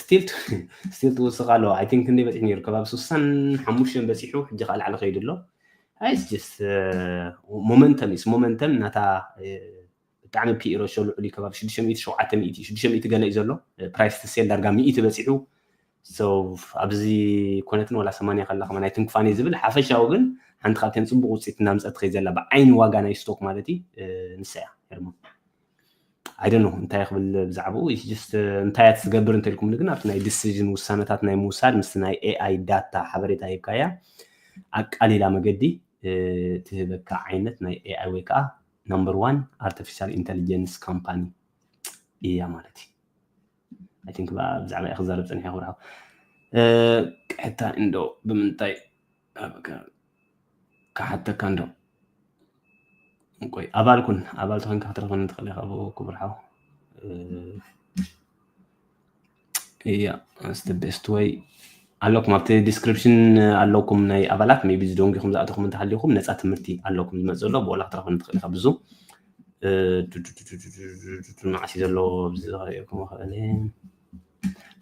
ስቲል ስቲል ትውስኽ ኣለዋ ኣይ ቲንክ ክንደይ በፂሑ ነይሩ ከባቢ ስሳን ሓሙሽተን በፂሑ ሕጂ ከዓ ላዕሊ ከይዱ ኣሎ ኣይስ ጀስ ሞመንተም ስ ሞመንተም ናታ ብጣዕሚ ፒኢሮ ሾ ልዑል እዩ ከባቢ ሽዱሽተ ሚእቲ ሸውዓተ ሚእቲ ሽዱሽተ ሚእቲ ገለ እዩ ዘሎ ፕራይስ ትሴል ዳርጋ ሚእቲ በፂሑ ኣብዚ ኮነትን ዋላ ሰማንያ ከላ ከማ ናይ ትንክፋኔ ዝብል ሓፈሻዊ ግን ሓንቲ ካብተን ፅቡቅ ውፅኢት እናምፀት ትኸይ ዘላ ብዓይኒ ዋጋ ናይ ስቶክ ማለት እዩ ንሳ እያ ኣይደኖ እንታይ ክብል ብዛዕባኡ ጀስት እንታይ እያ ትገብር እንተልኩምኒ ግን ኣብቲ ናይ ዲሲዥን ውሳነታት ናይ ምውሳድ ምስቲ ናይ ኤኣይ ዳታ ሓበሬታ ሂብካያ ኣቃሊላ መገዲ ትህበካ ዓይነት ናይ ኤኣይ ወይ ከዓ ናምበር ዋን ኣርቲፊሻል ኢንቴሊጀንስ ካምፓኒ እያ ማለት እዩ ኣይ ቲንክ ብዛዕባ እያ ክዛረብ ፀኒሐ ክብርሃው ቅሕታ እንዶ ብምንታይ ክሓተካ እንዶ ቆይ ኣባል ኩን ኣባል ተኮንካ ክትረክበኒ ትክእል ኢካ ክቡር ሓው እያ ስተ ቤስት ወይ ኣለኩም ኣብቲ ዲስክሪፕሽን ኣለኩም ናይ ኣባላት ሜቢ ዝደንጊኹም ዝኣተኹም እንተሃሊኹም ነፃ ትምህርቲ ኣለኩም ዝመፅ ዘሎ ብኦላ ክትረክበኒ ትክእል ኢካ ብዙ መዓስ እዩ ዘሎ ኣብዚ ዝሪኦ ክም ክእል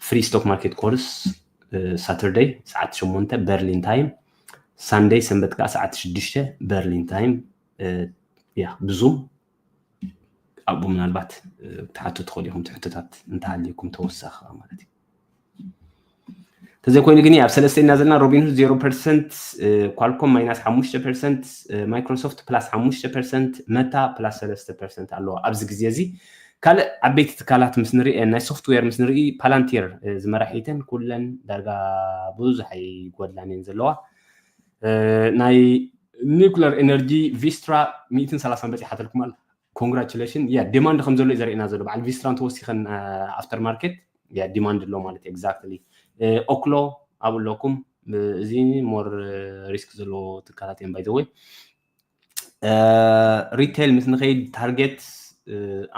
ፍሪ ስቶክ ማርኬት ኮርስ ሳተርደይ ሰዓት ሸሞንተ በርሊን ታይም ሳንደይ ሰንበት ከዓ ሰዓት ሽዱሽተ በርሊን ታይም ያ ብዙም ኣብኡ ምናልባት ክትሓቱ ትኽእሉ ኢኹም ትሕቶታት እንተሃልዩኩም ተወሳኺ ማለት እዩ ተዘይኮይኑ ግን ኣብ ሰለስተ ኢና ዘለና ሮቢንሁድ ዜሮ ፐርሰንት ኳልኮም ማይናስ ሓሙሽተ ፐርሰንት ማይክሮሶፍት ፕላስ ሓሙሽተ ፐርሰንት መታ ፕላስ ሰለስተ ፐርሰንት ኣለዋ ኣብዚ ግዜ እዚ ካልእ ዓበይቲ ትካላት ምስ ንርኢ ናይ ሶፍትዌር ምስ ንርኢ ፓላንቲር ዝመራሒተን ኩለን ዳርጋ ብዙሕ ኣይጎድላን እየን ዘለዋ ናይ ኒውክለር ኤነርጂ ቪስትራ 130 በፂሓተልኩም ኣላ ኮንግራቹሌሽን ያ ዲማንድ ከም ዘሎ እዩ ዘርእና ዘሎ በዓል ቪስትራን ተወሲኸን ኣፍተር ማርኬት ያ ዲማንድ ኣሎ ማለት ኤግዛክትሊ ኦክሎ ኣብኡ ኣለኩም እዚ ሞር ሪስክ ዘለዎ ትካላት እዮም ባይዘወይ ሪቴል ምስ ንኸይድ ታርጌት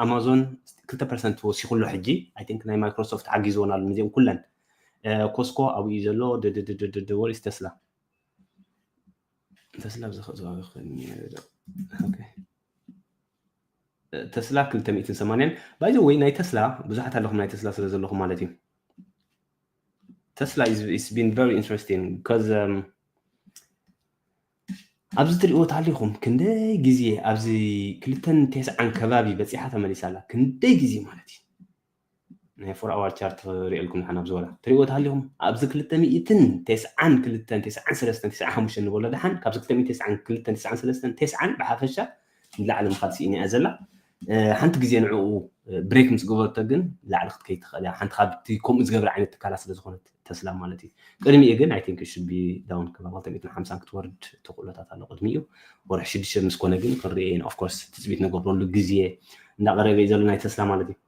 ኣማዞን ክልተ ፐርሰንት ወሲኹሎ ሕጂ ኣይ ቲንክ ናይ ማይክሮሶፍት ሓጊዝዎን ኣሎ ንዚኦም ኩለን ኮስኮ ኣብኡ እዩ ዘሎ ድድድድድ ወሪስ ተስላ ተስላ ብዝኸእ ዝዋጋ ክኸን ተስላ 280 ባይዘ ወይ ናይ ተስላ ብዙሓት ኣለኹም ናይ ተስላ ስለ ዘለኹም ማለት እዩ ተስላ ኢስ ቢን ቨሪ ኢንትረስቲንግ ቢካዝ ኣብዚ ትሪእዎ ታሊኩም ክንደይ ግዜ ኣብዚ ክልተን ቴስዓን ከባቢ በጺሓ ተመሊሳ ኣላ ክንደይ ግዜ ማለት እዩ ናይ ፎር ኣዋር ቻርት ሪኤልኩም ንሓን ኣብዚ ወላ ትሪእዎ ታሊኩም ኣብዚ ክልተ ሚእትን ቴስዓን ክልተን ቴስዓን ሰለስተን ቴስዓን ሓሙሽተ ንበሎ ደሓን ካብዚ ክልተ ሚእትን ቴስዓን ክልተን ቴስዓን ሰለስተን ቴስዓን ብሓፈሻ ንላዕሊ ምካድ ስኢና እያ ዘላ ሓንቲ ግዜ ንዕኡ ብሬክ ምስ ገበረቶ ግን ላዕሊ ክትከይድ ትኽእል እያ ሓንቲ ካብቲ ከምኡ ዝገብር ዓይነት ትካላት ስለ ዝኾነት ተስላ ማለት እዩ ቅድሚኡ ግን ኣይ ቲንክ ሽቢ ዳውን ክባ 250 ክትወርድ ተኽእሎታት ኣሎ ቅድሚኡ ወርሒ ሽዱሽተ ምስ ኮነ ግን ክንሪኦ ኢና ኦፍኮርስ ትፅቢት ንገብረሉ ግዜ እንዳቐረበ እዩ ዘሎ ናይ ተስላ ማለት እዩ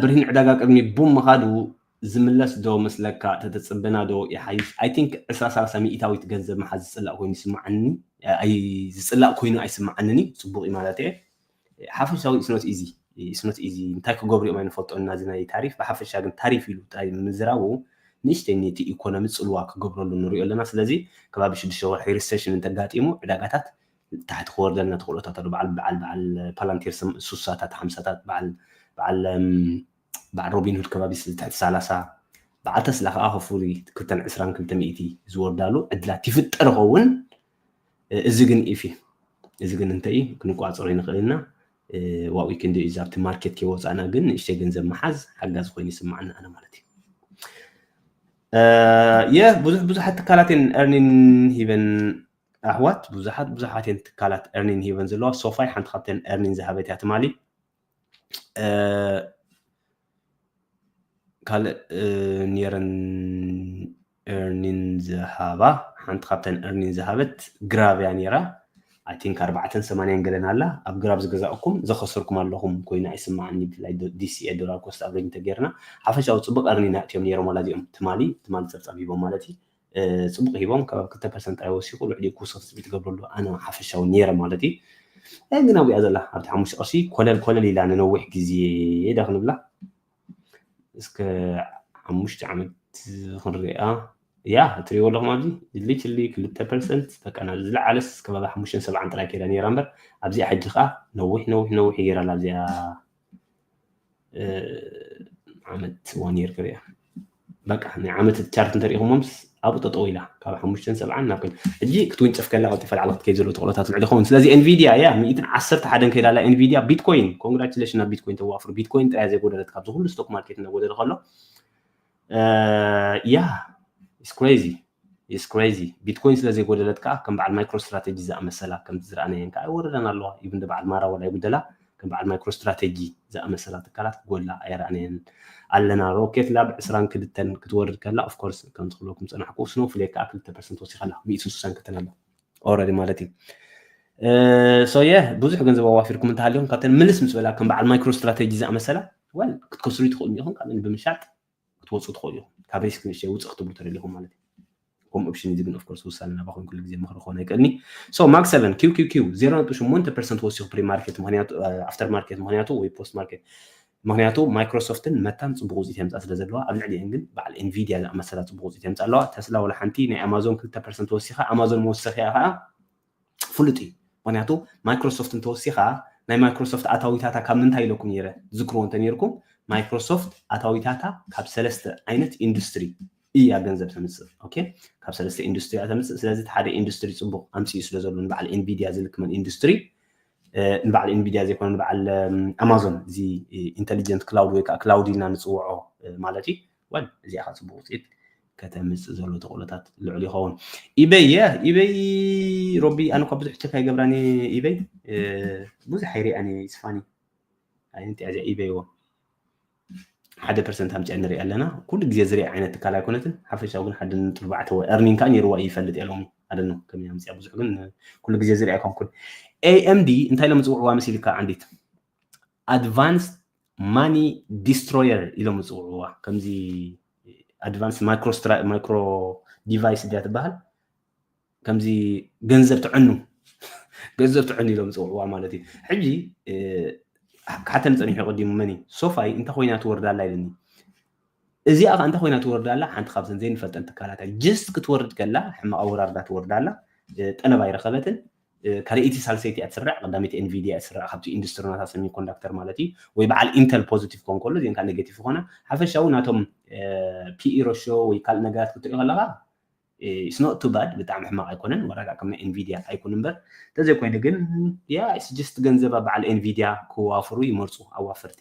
ብርሂን ዕዳጋ ቅድሚ ቡም ምኻዱ ዝምለስ ዶ መስለካ ተተጽበና ዶ ይሓይሽ ኣይ ቲንክ ዕስራ ሳላሳ ሚኢታዊት ገንዘብ ምሓዝ ዝጽላእ ኮይኑ ይስማዓኒ ኣይ ዝጽላእ ኮይኑ ኣይስማዓንን ዩ ጽቡቅ ዩ ማለት እየ ሓፈሻዊ ኢትስ ኖት ኢዚ ኢትስ ኖት ኢዚ እንታይ ክገብሩ ዮም ኣይንፈልጦን ኢና እዚ ናይ ታሪፍ ብሓፈሻ ግን ታሪፍ ኢሉ ጥራይ ምዝራቡ ንእሽተይ ነቲ ኢኮኖሚ ጽልዋ ክገብረሉ ንሪኦ ኣለና ስለዚ ከባቢ ሽዱሽተ ወርሒ ሪሰሽን እንተጋጢሙ ዕዳጋታት ታሕቲ ክወርደልና ተኽእሎታት ኣሎ በዓል በዓል በዓል ፓላንቴር ስሳታት ሓምሳታት በዓል በዓል በዓል ሮቢንሁድ ከባቢ ትሕቲ ሰላሳ፣ በዓል ተስላ ከኣ ከፍሪ ክተን ዕስራን ክልተ ሚእቲ ዝወርዳሉ ዕድላት ይፍጠር ይኸውን። እዚ ግን ኢፊ እዚ ግን እንተ እዩ ክንቋጸሮ ይንኽእል ኢና። ዋኡ ክንዲ እዩ ዛብቲ ማርኬት ከይወጻእና ግን ንእሽተይ ገንዘብ ምሓዝ ሓጋዚ ኮይኑ ይስምዓኒ ኣነ ማለት እዩ። የህ ብዙሕ ብዙሓት ትካላት እየን ኤርኒን ሂበን ኣሕዋት ብዙሓት ብዙሓት እየን ትካላት ኤርኒን ሂበን ዘለዋ ሶፋይ ሓንቲ ካብተን ኤርኒን ዝሃበት እያ ትማሊ ካልእ ኔረን እርኒን ዝሃባ ሓንቲ ካብተን እርኒን ዝሃበት ግራብ እያ ነይራ ኣይ ቲንክ ኣርባዕተን ሰማንያን ገለን ኣላ ኣብ ግራብ ዝገዛእኩም ዘኸሰርኩም ኣለኹም ኮይና ኣይስማዕን ብፍላይ ዲሲኤ ዶላር ኮስት ኣቨሬጅ እንተጌርና ሓፈሻዊ ፅቡቅ እርኒን ኣእትዮም ነይሮም ዋላ እዚኦም ትማሊ ትማሊ ፀብፃብ ሂቦም ማለት እዩ ጽቡቕ ሂቦም ካብ ክልተ ፐርሰንት ጥራይ ወሲኹ ልዕሊኡ ክውስኽ ትጽቢት ትገብረሉ ኣነ ሓፈሻዊ ኔረ ማለት እዩ እ ግን ኣብኣ ዘላ ኣብቲ ሓሙሽተ ቅርሺ ኮለል ኮለል ኢላ ንነዊሕ ግዜ ዳ ክንብላ እስከ ሓሙሽተ ዓመት ክንሪኣ እያ እትሪእዎ ኣለኹም ኣብዚ ድልይ ችልይ ክልተ ፐርሰንት በቃ ናብ ዝለዓለስ ከባቢ ሓሙሽተን ሰብዓን ጥራይ ከይዳ ነይራ እምበር ኣብዚኣ ሕጂ ከዓ ነዊሕ ነዊሕ ነዊሕ ይገይራ ኣላ ኣብዚኣ ዓመት ዋን የር ክሪያ በቃ ናይ ዓመት ቻርት እንተሪኢኹሞምስ ኣብኡ ጠጠው ኢላ ካብ ሓሙሽተን ሰብዓን ናብ ኮይና ሕጂ ክትውንጨፍ ከላ ቀልጢፋ ላዕሊ ክትከይድ ዘለዎ ተኽእሎታት ልዕሊ ይኸውን ስለዚ ኤንቪድያ እያ ሚእትን ዓሰርተ ሓደን ከይዳ ኣላ ኤንቪድያ ቢትኮይን ኮንግራቹሌሽን ናብ ቢትኮይን ተዋፍሩ ቢትኮይን ጥራያ ዘይጎደለት ካብዚ ኩሉ ስቶክ ማርኬት እናጎደለ ከሎ ያ ኢትስ ክሬዚ ኢትስ ክሬዚ ቢትኮይን ስለ ዘይጎደለት ከዓ ከም በዓል ማይክሮ ስትራቴጂ ዝኣመሰላ ከምቲ ዝረኣናየን ከዓ ኣይወረዳን ኣለዋ ኢቭን ዶ በዓል ማራ ወላ ይጉደላ ከም በዓል ማይክሮ ስትራቴጂ ዝኣመሰላ ትካላት ክጎላ ኣይረኣናየን ኣለና ሮኬት ላብ ዕስራን ክልተን ክትወርድ ከላ ኦፍ ኮርስ ከምቲ ክብለኩም ፀናሕኩ ስኖ ፍሌክ ከዓ ክልተ ፐርሰንት ወሲኻ ኣላ ሚእቲ ስሳን ክልተን ኣላ ኦልሬዲ ማለት እዩ ሶየ ብዙሕ ገንዘብ ኣዋፊርኩም እንተሃልዮም ካብተን ምልስ ምስ በላ ከም በዓል ማይክሮ ስትራቴጂ ዝኣመሰላ ወል ክትከስሩ ትኽእሉ ኢኹም ካልእን ብምሻጥ ክትወፁ ትኽእሉ ኢኹም ካብ ሪስክ ንእሽተይ ውፅእ ክትብሉ ተደሊኹም ማለት እዩ ከምኡ ኦፕሽን እዚ ግን ኦፍኮርስ ውሳነ ናባኹም ኩሉ ግዜ ምኽሪ ክኾን ኣይክእልኒ ሶ ማክ 7 ኪው ኪው ኪው 0.8 ፐርሰንት ወሲኹ ፕሪ ማርኬት ምክንያቱ ኣፍተር ማርኬት ምክንያቱ ወይ ፖስት ማርኬት ምክንያቱ ማይክሮሶፍትን መታን ፅቡቅ ውፅኢት የምፃእ ስለ ዘለዋ ኣብ ልዕሊአን ግን በዓል ኤንቪድያ ዝኣመሰላ ፅቡቅ ውፅኢት የምፃእ ኣለዋ ተስላ ወላ ሓንቲ ናይ ኣማዞን ክልተ ፐርሰንት ወሲኻ ኣማዞን መወሰኺያ ከዓ ፍሉጥ እዩ ምክንያቱ ማይክሮሶፍት እንተወሲኻ ናይ ማይክሮሶፍት ኣታዊታታ ካብ ምንታይ ኢለኩም ነይረ ትዝክርዎ እንተነይርኩም ማይክሮሶፍት ኣታዊታታ ካብ ሰለስተ ዓይነት ኢንዱስትሪ እያ ገንዘብ ተምፅእ ኦኬ ካብ ሰለስተ ኢንዱስትሪ እያ ተምፅእ ስለዚ እቲ ሓደ ኢንዱስትሪ ፅቡቅ ኣምፅኡ ስለ ዘሎ ንበዓል ኤንቪድያ ዝልክመን ኢንዱስትሪ ንበዓል ኤንቪድያ ዘይኮነ ንበዓል ኣማዞን እዚ ኢንቴሊጀንት ክላውድ ወይ ከዓ ክላውድ ኢልና ንፅውዖ ማለት እዩ ወል እዚኣ ከ ጽቡቅ ውጽኢት ከተምጽእ ዘሎ ተኽእሎታት ልዑል ይኸውን። ኢበይ የ ኢበይ ሮቢ ኣነ እኳ ብዙሕ ቸክ ኣይገብራን እየ ኢበይ ብዙሕ ኣይሪኣን እየ ይስፋኒ ኣይንት እያ እዚኣ ኢበይ ዎ ሓደ ፐርሰንት ኣምፅያ ንሪኣ ኣለና ኩሉ ግዜ ዝሪኣ ዓይነት ትካል ኣይኮነትን ሓፈሻዊ ግን ሓደ ነጥቢ ኣርባዕተ ወይ እርኒን ከዓ ነይርዋ እዩ ይፈልጥ እየ ሎሚ ኣደነ ከመይ ኣምፅያ ብዙሕ ግን ኩሉ ግዜ ዝሪኣ ኮንኩን ኤኤምዲ እንታይ ኢሎም ዝፅውዕዋ መሲልካ ዓንዲት ኣድቫንስ ማኒ ዲስትሮየር ኢሎም ዝፅውዕዋ ከምዚ ኣድቫንስ ማይክሮ ዲቫይስ ድያ ትበሃል ከምዚ ገንዘብ ትዕኑ ገንዘብ ትዕኑ ኢሎም ዝፅውዕዋ ማለት እዩ ሕጂ ክሓተኒ ፀኒሑ ቀዲሙ መን እዩ ሶፋይ እንታይ ኮይና ትወርዳ ኣላ ኢለኒ እዚኣ ከዓ እንታይ ኮይና ትወርዳ ኣላ ሓንቲ ካብተን ዘይንፈልጠን ትካላት ጀስት ክትወርድ ከላ ሕማቕ ኣወራርዳ ትወርዳ ኣላ ጠለብ ኣይረኸበትን ካልኣይቲ ሳልሰይቲ እያ ትስራዕ ቀዳመይቲ ኤንቪድያ እያ ትስራዕ ካብቲ ኢንዱስትሪ ናታ ሰሚ ኮንዳክተር ማለት እዩ ወይ በዓል ኢንተል ፖዚቲቭ ኮን ከሎ እዚን ከዓ ኔጌቲቭ ይኮና ሓፈሻዊ ናቶም ፒኢ ሮሾ ወይ ካልእ ነገራት ክትሪኦ ከለካ ኢትስ ኖት ቱ ባድ ብጣዕሚ ሕማቅ ኣይኮነን ዋላ ከም ናይ ኤንቪድያ ኣይኩን እምበር እንተዘይኮይኑ ግን ያ ኢትስ ጀስት ገንዘብ ኣብ በዓል ኤንቪድያ ክዋፍሩ ይመርፁ ኣዋፈርቲ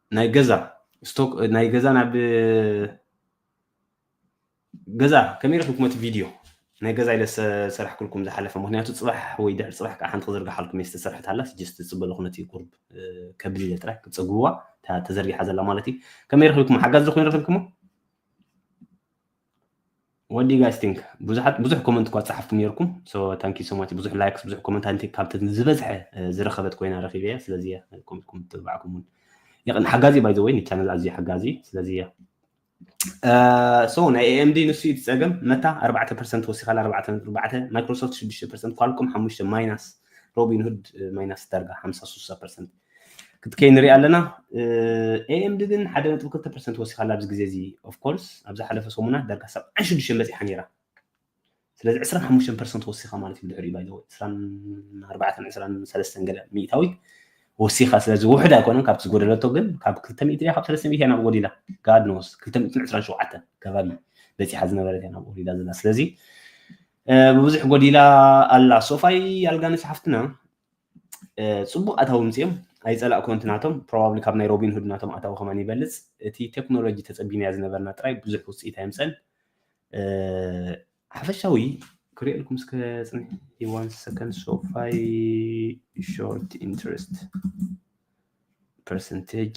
ናይ ገዛ ስቶክ ናይ ገዛ ናብ ገዛ ከመይ ረኪብኩም እቲ ቪድዮ ናይ ገዛ ኢለ ሰራሕክልኩም ዝሓለፈ ምክንያቱ ፅባሕ ወይ ድሕሪ ፅባሕ ከዓ ሓንቲ ክዝርግሓልኩም እየ ዝተሰርሐት ኣላ ጀስት ዝፅበለኹ ነቲ ቁርብ ከብል ኢለ ጥራይ ክትፀግብዋ ተዘርጊሓ ዘላ ማለት እዩ ከመይ ረኪብኩም ሓጋዚ ዝኾይኑ ረኪብኩሞ what do you guys think ብዙሓት ብዙሕ ኮመንት እኳ ጸሓፍኩም ነርኩም so thank you so much ብዙሕ ላይክስ ብዙሕ ኮመንት ኣንቲ ካብቲ ዝበዝሐ ዝረኸበት ኮይና ረኺበ እያ ስለዚ ኮመንትኩም ትብዓኩም እውን የቕን ሓጋዚ ባይ ዘወይ ንቻነል ኣዝዩ ሓጋዚ ስለዚ እያ so ናይ AMD ንሱ እዩ ጸገም መታ 4% ወሲኻላ 4.4 ማይክሮሶፍት 6% ኳልኮም 5 ማይናስ ሮቢን ሁድ ማይናስ ዳርጋ 50 60% ክትከይ ንሪኢ ኣለና ኤኤምዲ ግን ሓደ ነጥቢ ክልተ ፐርሰንት ወሲኻላ ኣብዚ ግዜ እዚ ኦፍኮርስ ኣብ ዝሓለፈ ሰሙናት ዳርጋ ሰብዓን ሽዱሽተን በፂሓ ነይራ ስለዚ ዕስራን ሓሙሽተን ፐርሰንት ወሲኻ ማለት እዩ ብድሕሪኡ ባይዘወ ዕስራን ኣርባዕተን ዕስራን ሰለስተን ገለ ሚእታዊት ወሲኻ ስለዚ ውሕድ ኣይኮነን ካብቲ ዝጎደለቶ ግን ካብ ክልተ ሚእቲ ድያ ካብ ሰለስተ ሚእቲ ናብ ጎዲላ ጋድ ኖስ ክልተ ሚእትን ዕስራን ሸውዓተ ከባቢ በፂሓ ዝነበረት እያ ናብ ጎዲላ ዘላ ስለዚ ብብዙሕ ጎዲላ ኣላ ሶፋይ ኣልጋነሽ ሓፍትና ጽቡቅ ኣታዊ ምጽዮም ኣይጸላእኮን እቲ ናቶም ፕሮባብሊ ካብ ናይ ሮቢን ሁድ ናቶም ኣታዊ ከማን ይበልጽ እቲ ቴክኖሎጂ ተጸቢናያ ዝነበርና ጥራይ ብዙሕ ውጽኢት ኣይምጸን ሓፈሻዊ ክሪኤልኩም እስከ ጽንሕ ዋን ሰከንድ ሶፋይ ሾርት ኢንትረስት ፐርሰንቴጅ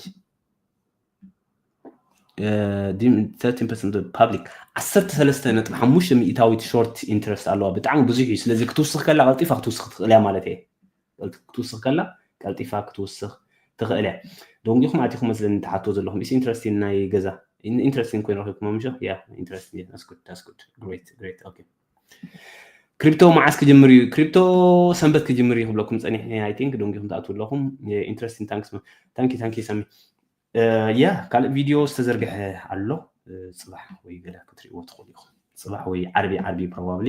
ፓብሊክ ዓሰርተ ሰለስተ ነጥቢ ሓሙሽተ ሚእታዊት ሾርት ኢንትረስት ኣለዋ ብጣዕሚ ብዙሕ እዩ ስለዚ ክትውስኽ ከላ ቀልጢፋ ክትውስኽ ትኽእል እያ ማለት እየ ክትውስኽ ከላ ቀልጢፋ ክትውስኽ ትኽእል እያ ደንጊኹም ኣቲኹም መስለኒ ትሓቶ ዘለኹም ኢስ ኢንትረስቲን ናይ ገዛ ኢንትረስቲን ኮይኑ ረኪብኩም ምሸ ያ ኢንትረስቲን ዳስ ጉድ ዳስ ጉድ ግሬት ግሬት ኦኬ ክሪፕቶ መዓስ ክጅምር እዩ ክሪፕቶ ሰንበት ክጅምር እዩ ክብለኩም ፀኒሕ ኣይ ቲንክ ደንጊኹም ትኣትው ኣለኹም ኢንትረስቲን ታንክስ ታንኪ ታንኪ ሰሚ ያ ካልእ ቪድዮ ዝተዘርግሐ ኣሎ ፅባሕ ወይ ገለ ክትሪእዎ ትኽእሉ ኢኹም ፅባሕ ወይ ዓርቢ ዓርቢ ፕሮባብሊ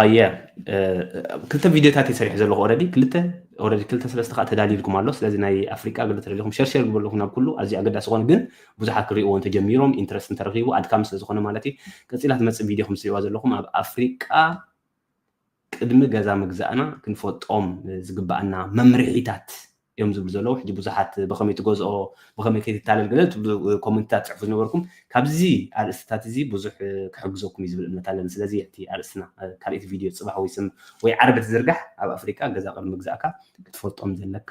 ኣየ ክልተ ቪድዮታት እየ ሰሪሑ ዘለኹ ኦረዲ ክልተ ኦረዲ ክልተ ሰለስተ ከዓ ተዳልዩልኩም ኣሎ ስለዚ ናይ ኣፍሪቃ ግልት ረለኹም ሸርሸር ግበለኹም ናብ ኩሉ ኣዝዩ ኣገዳሲ ዝኾነ ግን ብዙሓት ክሪእዎ እንተጀሚሮም ኢንትረስት እንተረኺቡ ኣድካሚ ስለ ዝኾነ ማለት እዩ ቀፂላ ትመፅእ ቪድዮ ከም ትሪእዋ ዘለኹም ኣብ ኣፍሪቃ ቅድሚ ገዛ ምግዛእና ክንፈልጦም ዝግባኣና መምርሒታት እዮም ዝብሉ ዘለዉ ሕጂ ብዙሓት ብኸመይ ትገዝኦ ብኸመይ ከይትታለል ገለ ትብሉ ኮመንትታት ትጽሕፉ ዝነበርኩም ካብዚ ኣርእስትታት እዚ ብዙሕ ክሕግዘኩም እዩ ዝብል እምነት ኣለኒ ስለዚ እቲ ኣርእስትና ካልእቲ ቪድዮ ጽባሕ ወይ ስም ወይ ዓርቢ ትዝርጋሕ ኣብ ኣፍሪቃ ገዛ ቅድሚ ምግዛእካ ክትፈልጦም ዘለካ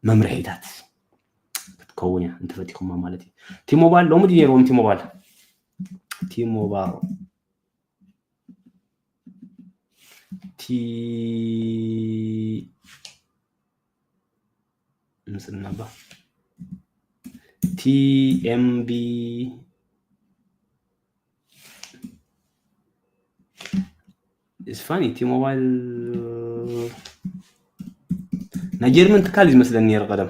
መምርሒታት ክትከውን እያ እንተፈቲኹማ ማለት እዩ ቲሞባል ሎሚ ድዩ ነይርዎም ቲሞባል ቲሞባል እቲ ምስልናባ ቲኤምቢ እስፋኒ እቲ ሞባይል ናይ ጀርመን ትካል እዩ ዝመስለኒ ነይሩ ቀደም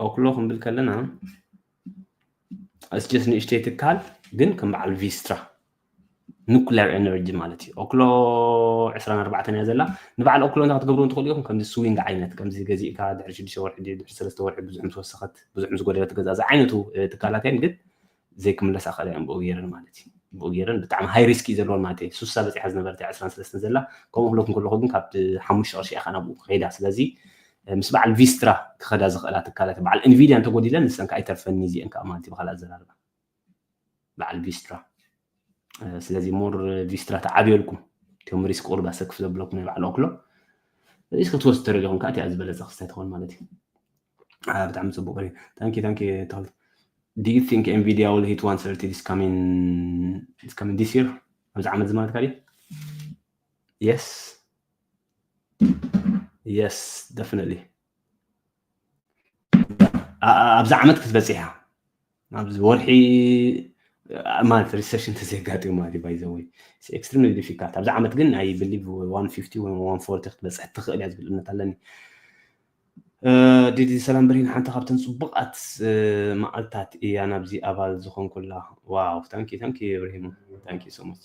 ኦክሎ ክንብል ከለና እስጀስ ንእሽተይ ትካል ግን ከም በዓል ቪስትራ ኑክሌር ኤነርጂ ማለት እዩ ኦክሎ 24 እያ ዘላ ንበዓል ኦክሎ እንታ ክትገብሩ እንትኽእሉ ኢኹም ከምዚ ስዊንግ ዓይነት ከምዚ ገዚእካ ድሕሪ ሽዱሽተ ወርሒ ድሕሪ ሰለስተ ወርሒ ብዙሕ ምስ ወሰኸት ብዙሕ ምስ ጎደለት ገዛ ዝዓይነቱ ትካላት እየን ግን ዘይክምለስ ኣኸለ እየን ብኡ ጌረን ማለት እዩ ብኡ ጌረን ብጣዕሚ ሃይ ሪስክ እዩ ዘለዎን ማለት እዩ ሱሳ በፂሓ ዝነበረት እያ ዕስራን ሰለስተን ዘላ ከምኡ ክብለኩ እንከለኩ ግን ካብ ሓሙሽተ ቅርሺ እያ ናብኡ ክኸይዳ ስለዚ ምስ በዓል ቪስትራ ክኸዳ ዝኽእላ ትካላት በዓል ኢንቪድያ እንተጎዲለን ንሰን ከዓ ኣይተርፈኒ እዚአን ከዓ ማለት እዩ ብካልእ ኣዘራርባ በዓል ቪስትራ ስለዚ ሞር ቪስትራ ተዓብየልኩም እቶም ሪስክ ቁርብ ኣሰክፍ ዘብለኩም ናይ ባዕሉ ኣክሎ ሪስክ ክትወስድ ተረዲኹም ከዓ እቲኣ ዝበለፀ ክስታይ ትኾን ማለት እዩ ብጣዕሚ ፅቡቅ እዩ ታንኪ ታንኪ ታል Do you think Nvidia will hit 130 this coming this coming this year? ኣብዚ ዓመት እዚ ማለት ካልእ Yes. Yes, definitely. ኣብዚ ዓመት ክትበፅሕ እያ ኣብዚ ወርሒ ማለት ሪሰሽን ተዘጋጢሙ ማለት እዩ ባይዘወይ ኤክስትሪምሊ ዲፊካልት ኣብዚ ዓመት ግን ናይ ብሊቭ 150 ወይ 140 ክትበፅሕ ትኽእል እያ ዝብል እምነት ኣለኒ ዲዲ ሰላም ብርሂን ሓንቲ ካብተን ፅቡቃት መዓልታት እያ ናብዚ ኣባል ዝኾንኩላ ዋው ታንኪ ታንኪ ብርሂን ታንኪ ሶ ማች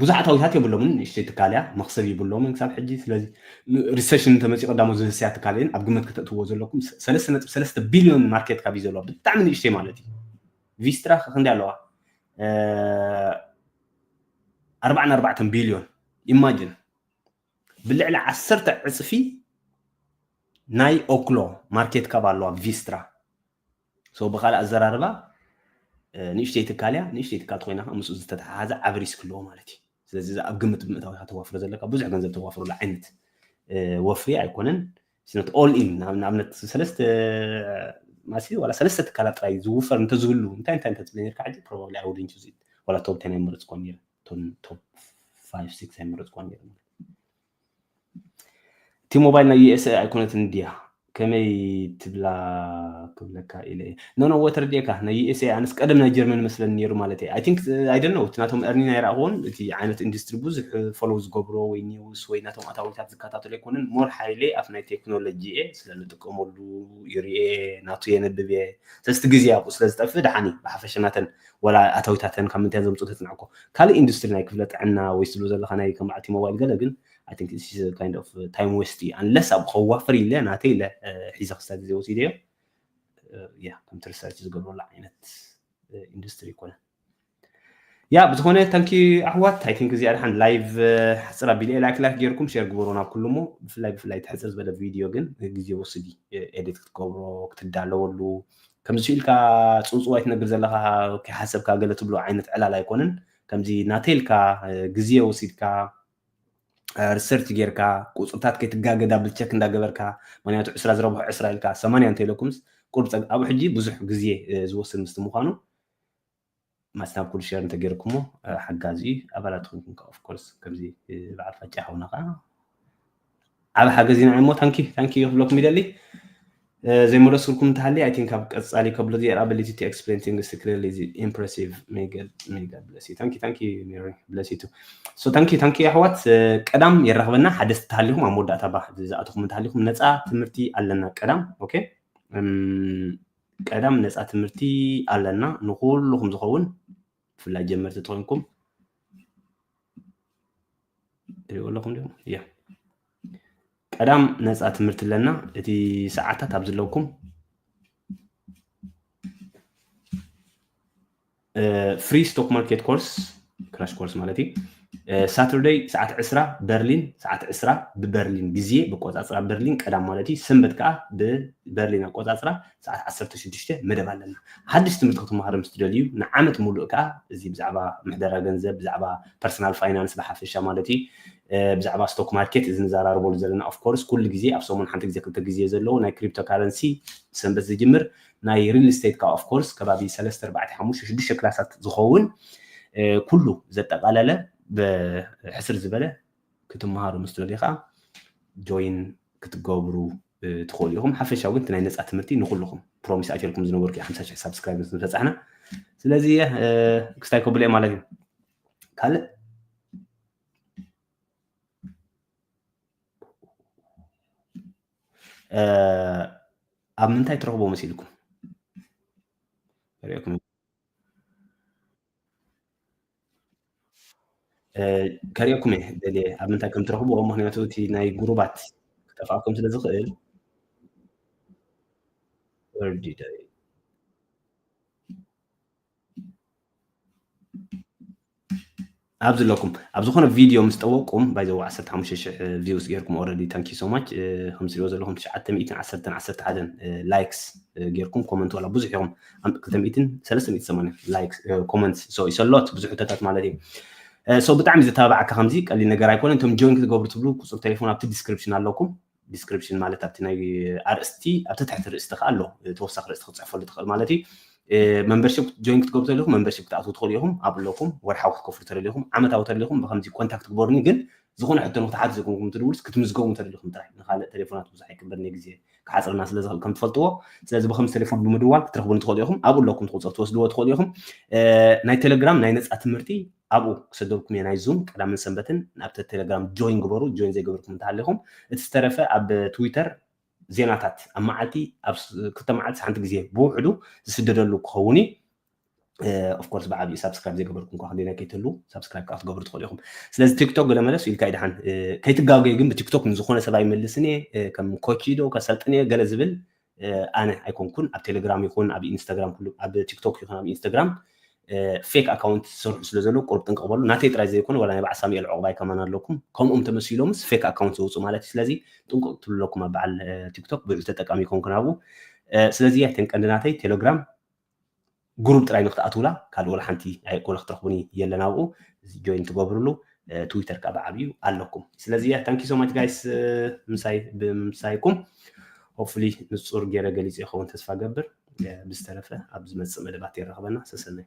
ብዙሓት ኣዊታት የብሎምን ንእሽተይ ትካል እያ መክሰብ ይብሎምን ክሳብ ሕጂ ስለዚ ሪሰሽን እንተመፂ ቀዳሞ ዝህስያ ትካል እየን ኣብ ግመት ከተእትዎ ዘለኩም ሰለስተ ነጥቢ ሰለስተ ቢልዮን ማርኬት ካብ ዘለዋ ብጣዕሚ ንእሽተይ ማለት እዩ ቪስትራ ክንደይ ኣለዋ ኣርባዕን ኣርባዕተን ቢልዮን ኢማጅን ብልዕሊ ዓሰርተ ዕፅፊ ናይ ኦክሎ ማርኬት ካብ ኣለዋ ቪስትራ So ብኻልእ ኣዘራርባ ንእሽተይ ትካል እያ፣ ንእሽተይ ትካል ተኾይና ከኣ ምስኡ ዝተተሓሓዘ ዓቢ ሪስክ ኣለዎ ማለት እዩ። ስለዚ እዛ ኣብ ግምት ብምእታው ኢኻ ተዋፍሮ ዘለካ ብዙሕ ገንዘብ ተዋፍረሉ ዓይነት ወፍሪ ኣይኮነን። ስነት ኦል ኢን ንኣብነት ሰለስተ ማሲ ዋላ ሰለስተ ትካላት ጥራይ ዝውፈር እንተዝህሉ እንታይ እንታይ እንተትብለኒ ነርካ ሕጂ ፕሮባብሊ ኣይ ውድንት ዩዝ ኢት ዋላ ቶብ ቴን ኣይመረጽኩዎን ነይረ ቶብ ፋይቭ ሲክስ ኣይመረጽኩዎን ነይረ እቲ ሞባይል ናይ USA ኣይኮነትን ድያ ከመይ ትብላ ክብለካ ኢለ እየ ኖ ኖ ወ ተረዲኤካ ናይ USA ኣነስ ቀደም ናይ ጀርመን መስለኒ ነይሩ ማለት እየ ኣይ ቲንክ ኣይ ዶንት ኖ እቲ ናቶም እርኒ ናይ ረኣኹዎን እቲ ዓይነት ኢንዱስትሪ ብዙሕ ፎሎው ዝገብሮ ወይ ኒውስ ወይ ናቶም ኣታዊታት ዝከታተሎ ኣይኮነን ሞር ሓይሌ ኣብ ናይ ቴክኖሎጂ እየ ስለ ንጥቀመሉ ይርኤ ናቱ የነብብ እየ ስለስቲ ግዜ ኣብኡ ስለ ዝጠፍእ ደሓኒ ብሓፈሻ ናተን ወላ ኣታዊታተን ካብ ምንታይ ዘምጽኡ ተጽንዕኮ ካልእ ኢንዱስትሪ ናይ ክፍለ ጥዕና ወይ ስሉ ዘለካ ናይ ከም በዓልቲ ሞባይል ገለ ግን I think this is a kind of time waste እዩ unless ኣብ ከዋፍር ኢለ ናተይ ኢለ ሒዘ ክስታ ግዜ ወሲደዮ ያ ከምቲ ሪሰርች ዝገብረሉ ዓይነት ኢንዱስትሪ ይኮነ ያ ብዝኾነ ታንኪ ኣሕዋት ኣይ ቲንክ እዚኣ ድሓን ላይቭ ሕፅር ኣቢለ ላይክ ላይክ ጌርኩም ሼር ግበሩ ናብ ኩሉ እሞ ብፍላይ ብፍላይ ትሕፅር ዝበለ ቪድዮ ግን ግዜ ወስዲ ኤዲት ክትገብሮ ክትዳለወሉ ከምዚ ኢልካ ጽውጽዋይ ትነግር ዘለኻ ከይሓሰብካ ገለ ትብሎ ዓይነት ዕላል ኣይኮነን ከምዚ ናተይ ኢልካ ግዜ ወሲድካ ሪሰርች ጌርካ ቁጽርታት ከይትጋገ ዳብል ቸክ እንዳገበርካ ምክንያቱ ዕስራ ዝረብሖ ዕስራ ኢልካ ሰማንያ እንተኢለኩምስ ቁርብ ጸግ ኣብኡ ሕጂ ብዙሕ ግዜ ዝወስድ ምስቲ ምዃኑ ማስታብ ኩሉ ሸር እንተገይርኩሞ ሓጋዚ እዩ ኣባላት ኮንኩም ከዓ ኦፍኮርስ ከምዚ በዓል ፋጫ ሓውና ከዓ ዓብ ሓገዝ ኢና እሞ ታንኪ ታንኪ ክብለኩም ይደሊ ዘይመለስኩልኩም እንተሃልየ ኣይ ቲንክ ኣብ ቀፃሊ ከብሎ ዝየር ኣቢሊቲ ቱ ኤክስፕሌን ቲንግስ ቱ ክሊርሊ ኢዝ ኢምፕሬሲቭ ሜጋ ብለሲ ታንኪ ታንኪ ሜሪ ብለሲ ቱ ሶ ታንኪ ታንኪ ኣሕዋት ቀዳም የራኽበና ሓደስቲ ተሃሊኹም ኣብ መወዳእታ ባ ዝኣተኹም እንተሃሊኹም ነፃ ትምህርቲ ኣለና ቀዳም ኦኬ ቀዳም ነፃ ትምህርቲ ኣለና ንኩሉኩም ዝኸውን ብፍላይ ጀመርቲ ተኮንኩም ትሪእዎ ኣለኹም ዲኹም እያ ቀዳም ነፃ ትምህርቲ ኣለና እቲ ሰዓታት ኣብ ዝለኩም ፍሪ ስቶክ ማርኬት ኮርስ ክራሽ ኮርስ ማለት እዩ ሳተርደይ ሰዓት ዕስራ በርሊን ሰዓት ዕስራ ብበርሊን ግዜ ብቆፃፅራ በርሊን ቀዳም ማለት እዩ ሰንበት ከዓ ብበርሊን ኣቆፃፅራ ሰዓት ዓሰርተ ሽዱሽተ መደብ ኣለና ሓድሽ ትምህርቲ ክትመሃሩ ምስ ትደልዩ ንዓመት ሙሉእ ከዓ እዚ ብዛዕባ ምሕደራ ገንዘብ ብዛዕባ ፐርሰናል ፋይናንስ ብሓፈሻ ማለት እዩ ብዛዕባ ስቶክ ማርኬት እዚ ንዘራርበሉ ዘለና ኦፍኮርስ ኩሉ ግዜ ኣብ ሰሙን ሓንቲ ግዜ ክልተ ግዜ ዘለዎ ናይ ክሪፕቶ ካረንሲ ሰንበት ዝጅምር ናይ ሪል ስቴት ከኣ ኦፍ ኮርስ ከባቢ ሰለስተ ኣርባዕተ ሓሙሽተ ሽዱሽተ ክላሳት ዝኸውን ኩሉ ዘጠቓለለ ብሕስር ዝበለ ክትመሃሩ ምስ ትደልዩ ከኣ ጆይን ክትገብሩ ትኽእሉ ኢኹም ሓፈሻዊ ግን እቲ ናይ ነፃ ትምህርቲ ንኩልኹም ፕሮሚስ ኣይተልኩም ዝነበርኩ እዩ ሓምሳ ሽሕ ሳብስክራይብ ምስ በፃሕና ስለዚ ክስታይ ከብሎ እየ ማለት እዩ ካልእ ኣብ ምንታይ ትረኽቦ መሲልኩም ሪኦኩም ከሪኦኩም እየ ደልየ ኣብ ምንታይ ከም ትረኽቦ ምክንያቱ እቲ ናይ ጉሩባት ክጠፍኣኩም ስለ ዝኽእል ወርዲደ ኣብዚ ኣለኩም ኣብ ዝኾነ ቪድዮ ምስ ጠወቅኩም ባይ ዘ 15000 ቪውስ ጌርኩም ኦልሬዲ ታንኪ ሶ ማች ከም ትሪኦ ዘለኹም 911 ላይክስ ጌርኩም ኮመንት ዋላ ብዙሕ ኢኹም 2380 ላይክ ኮመንት ሶ ይሰሎት ብዙሕ ሕቶታት ማለት እዩ ሶ ብጣዕሚ ዘተባብዓካ ከምዚ ቀሊል ነገር ኣይኮነን እቶም ጆይን ክትገብሩ ትብሉ ቁፅሪ ቴሌፎን ኣብቲ ዲስክሪፕሽን ኣለኩም ዲስክሪፕሽን ማለት ኣብቲ ናይ ኣርእስቲ ኣብቲ ትሕቲ ርእስቲ ከዓ ኣሎ ተወሳኺ ርእስቲ ክትፅሕፈሉ ትኽእል ማለት እዩ መምበርሽፕ ጆይን ክትገብሩ ተለኹም መምበርሽፕ ክትኣትዉ ትኽእሉ ኢኹም ኣብ ኣለኹም ወርሓዊ ክትከፍሉ ተደሊኹም ዓመታዊ ተደሊኹም ብከምዚ ኮንታክት ግበሩኒ ግን ዝኾነ ሕቶ ንክትሓት ዘኮንኩም ትድውልስ ክትምዝገቡ ተደሊኹም ጥራሕ ንካልእ ቴሌፎናት ብዙሕ ኣይቅበልኒ ግዜ ክሓፅረና ስለ ዝኽእል ከም ትፈልጥዎ ስለዚ ብከምዚ ቴሌፎን ብምድዋል ክትረኽቡኒ ትኽእሉ ኢኹም ኣብኡ ኣለኩም ትቁፅር ትወስድዎ ትኽእሉ ኢኹም ናይ ቴሌግራም ናይ ነፃ ትምህርቲ ኣብኡ ክሰደልኩም እየ ናይ ዙም ቀዳምን ሰንበትን ናብቲ ቴለግራም ጆይን ግበሩ ጆይን ዘይገበርኩም እንተሃሊኹም እቲ ዝተረፈ ኣብ ትዊተር ዜናታት ኣብ መዓልቲ ኣብ ክልተ መዓልቲ ሓንቲ ግዜ ብውሕዱ ዝስደደሉ ክኸውን እዩ ኦፍኮርስ ብዓብዩ ሳብስክራይብ ዘይገበርኩም ኳ ክንደና ከይትህሉ ሳብስክራይብ ከዓ ክትገብሩ ትኽእሉ ኢኹም ስለዚ ቲክቶክ ገለ መለስ ኢልካ ይድሓን ከይትጋገዩ ግን ብቲክቶክ ንዝኾነ ሰብ ኣይመልስን እየ ከም ኮች ዶ ከሰልጥን እየ ገለ ዝብል ኣነ ኣይኮንኩን ኣብ ቴሌግራም ይኹን ኣብ ኢንስታግራም ኩሉ ኣብ ቲክቶክ ይኹን ኣብ ኢንስታግራም ፌክ ኣካውንት ዝሰርሑ ስለ ዘለዉ ቁሩብ ጥንቅቕ በሉ ናተይ ጥራይ ዘይኮነ ወላ ናይ በዓል ሳሙኤል ዑቕባይ ከማን ኣለኩም ከምኦም ተመሲሎምስ ፌክ ኣካውንት ዘውፅኡ ማለት እዩ ስለዚ ጥንቁቕ ትብሉ ኣለኩም ኣብ በዓል ቲክቶክ ብዑል ተጠቃሚ ይኮንኩን ኣብኡ ስለዚ ኣይተንቀንዲ ናተይ ቴሌግራም ግሩብ ጥራይ ንክትኣትውላ ካልእ ወላ ሓንቲ ወላ ክትረኽቡኒ የለን ኣብኡ እዚ ጆይን ትገብርሉ ትዊተር ከኣ ብዓቢኡ ኣለኩም ስለዚ ያ ታንኪ ሶማች ጋይስ ምሳይ ብምሳይኩም ሆፕፉሊ ንጹር ገይረ ገሊጹ ይኸውን ተስፋ ገብር ብዝተረፈ ኣብ ዝመጽእ መደባት የራኽበና ሰሰናይ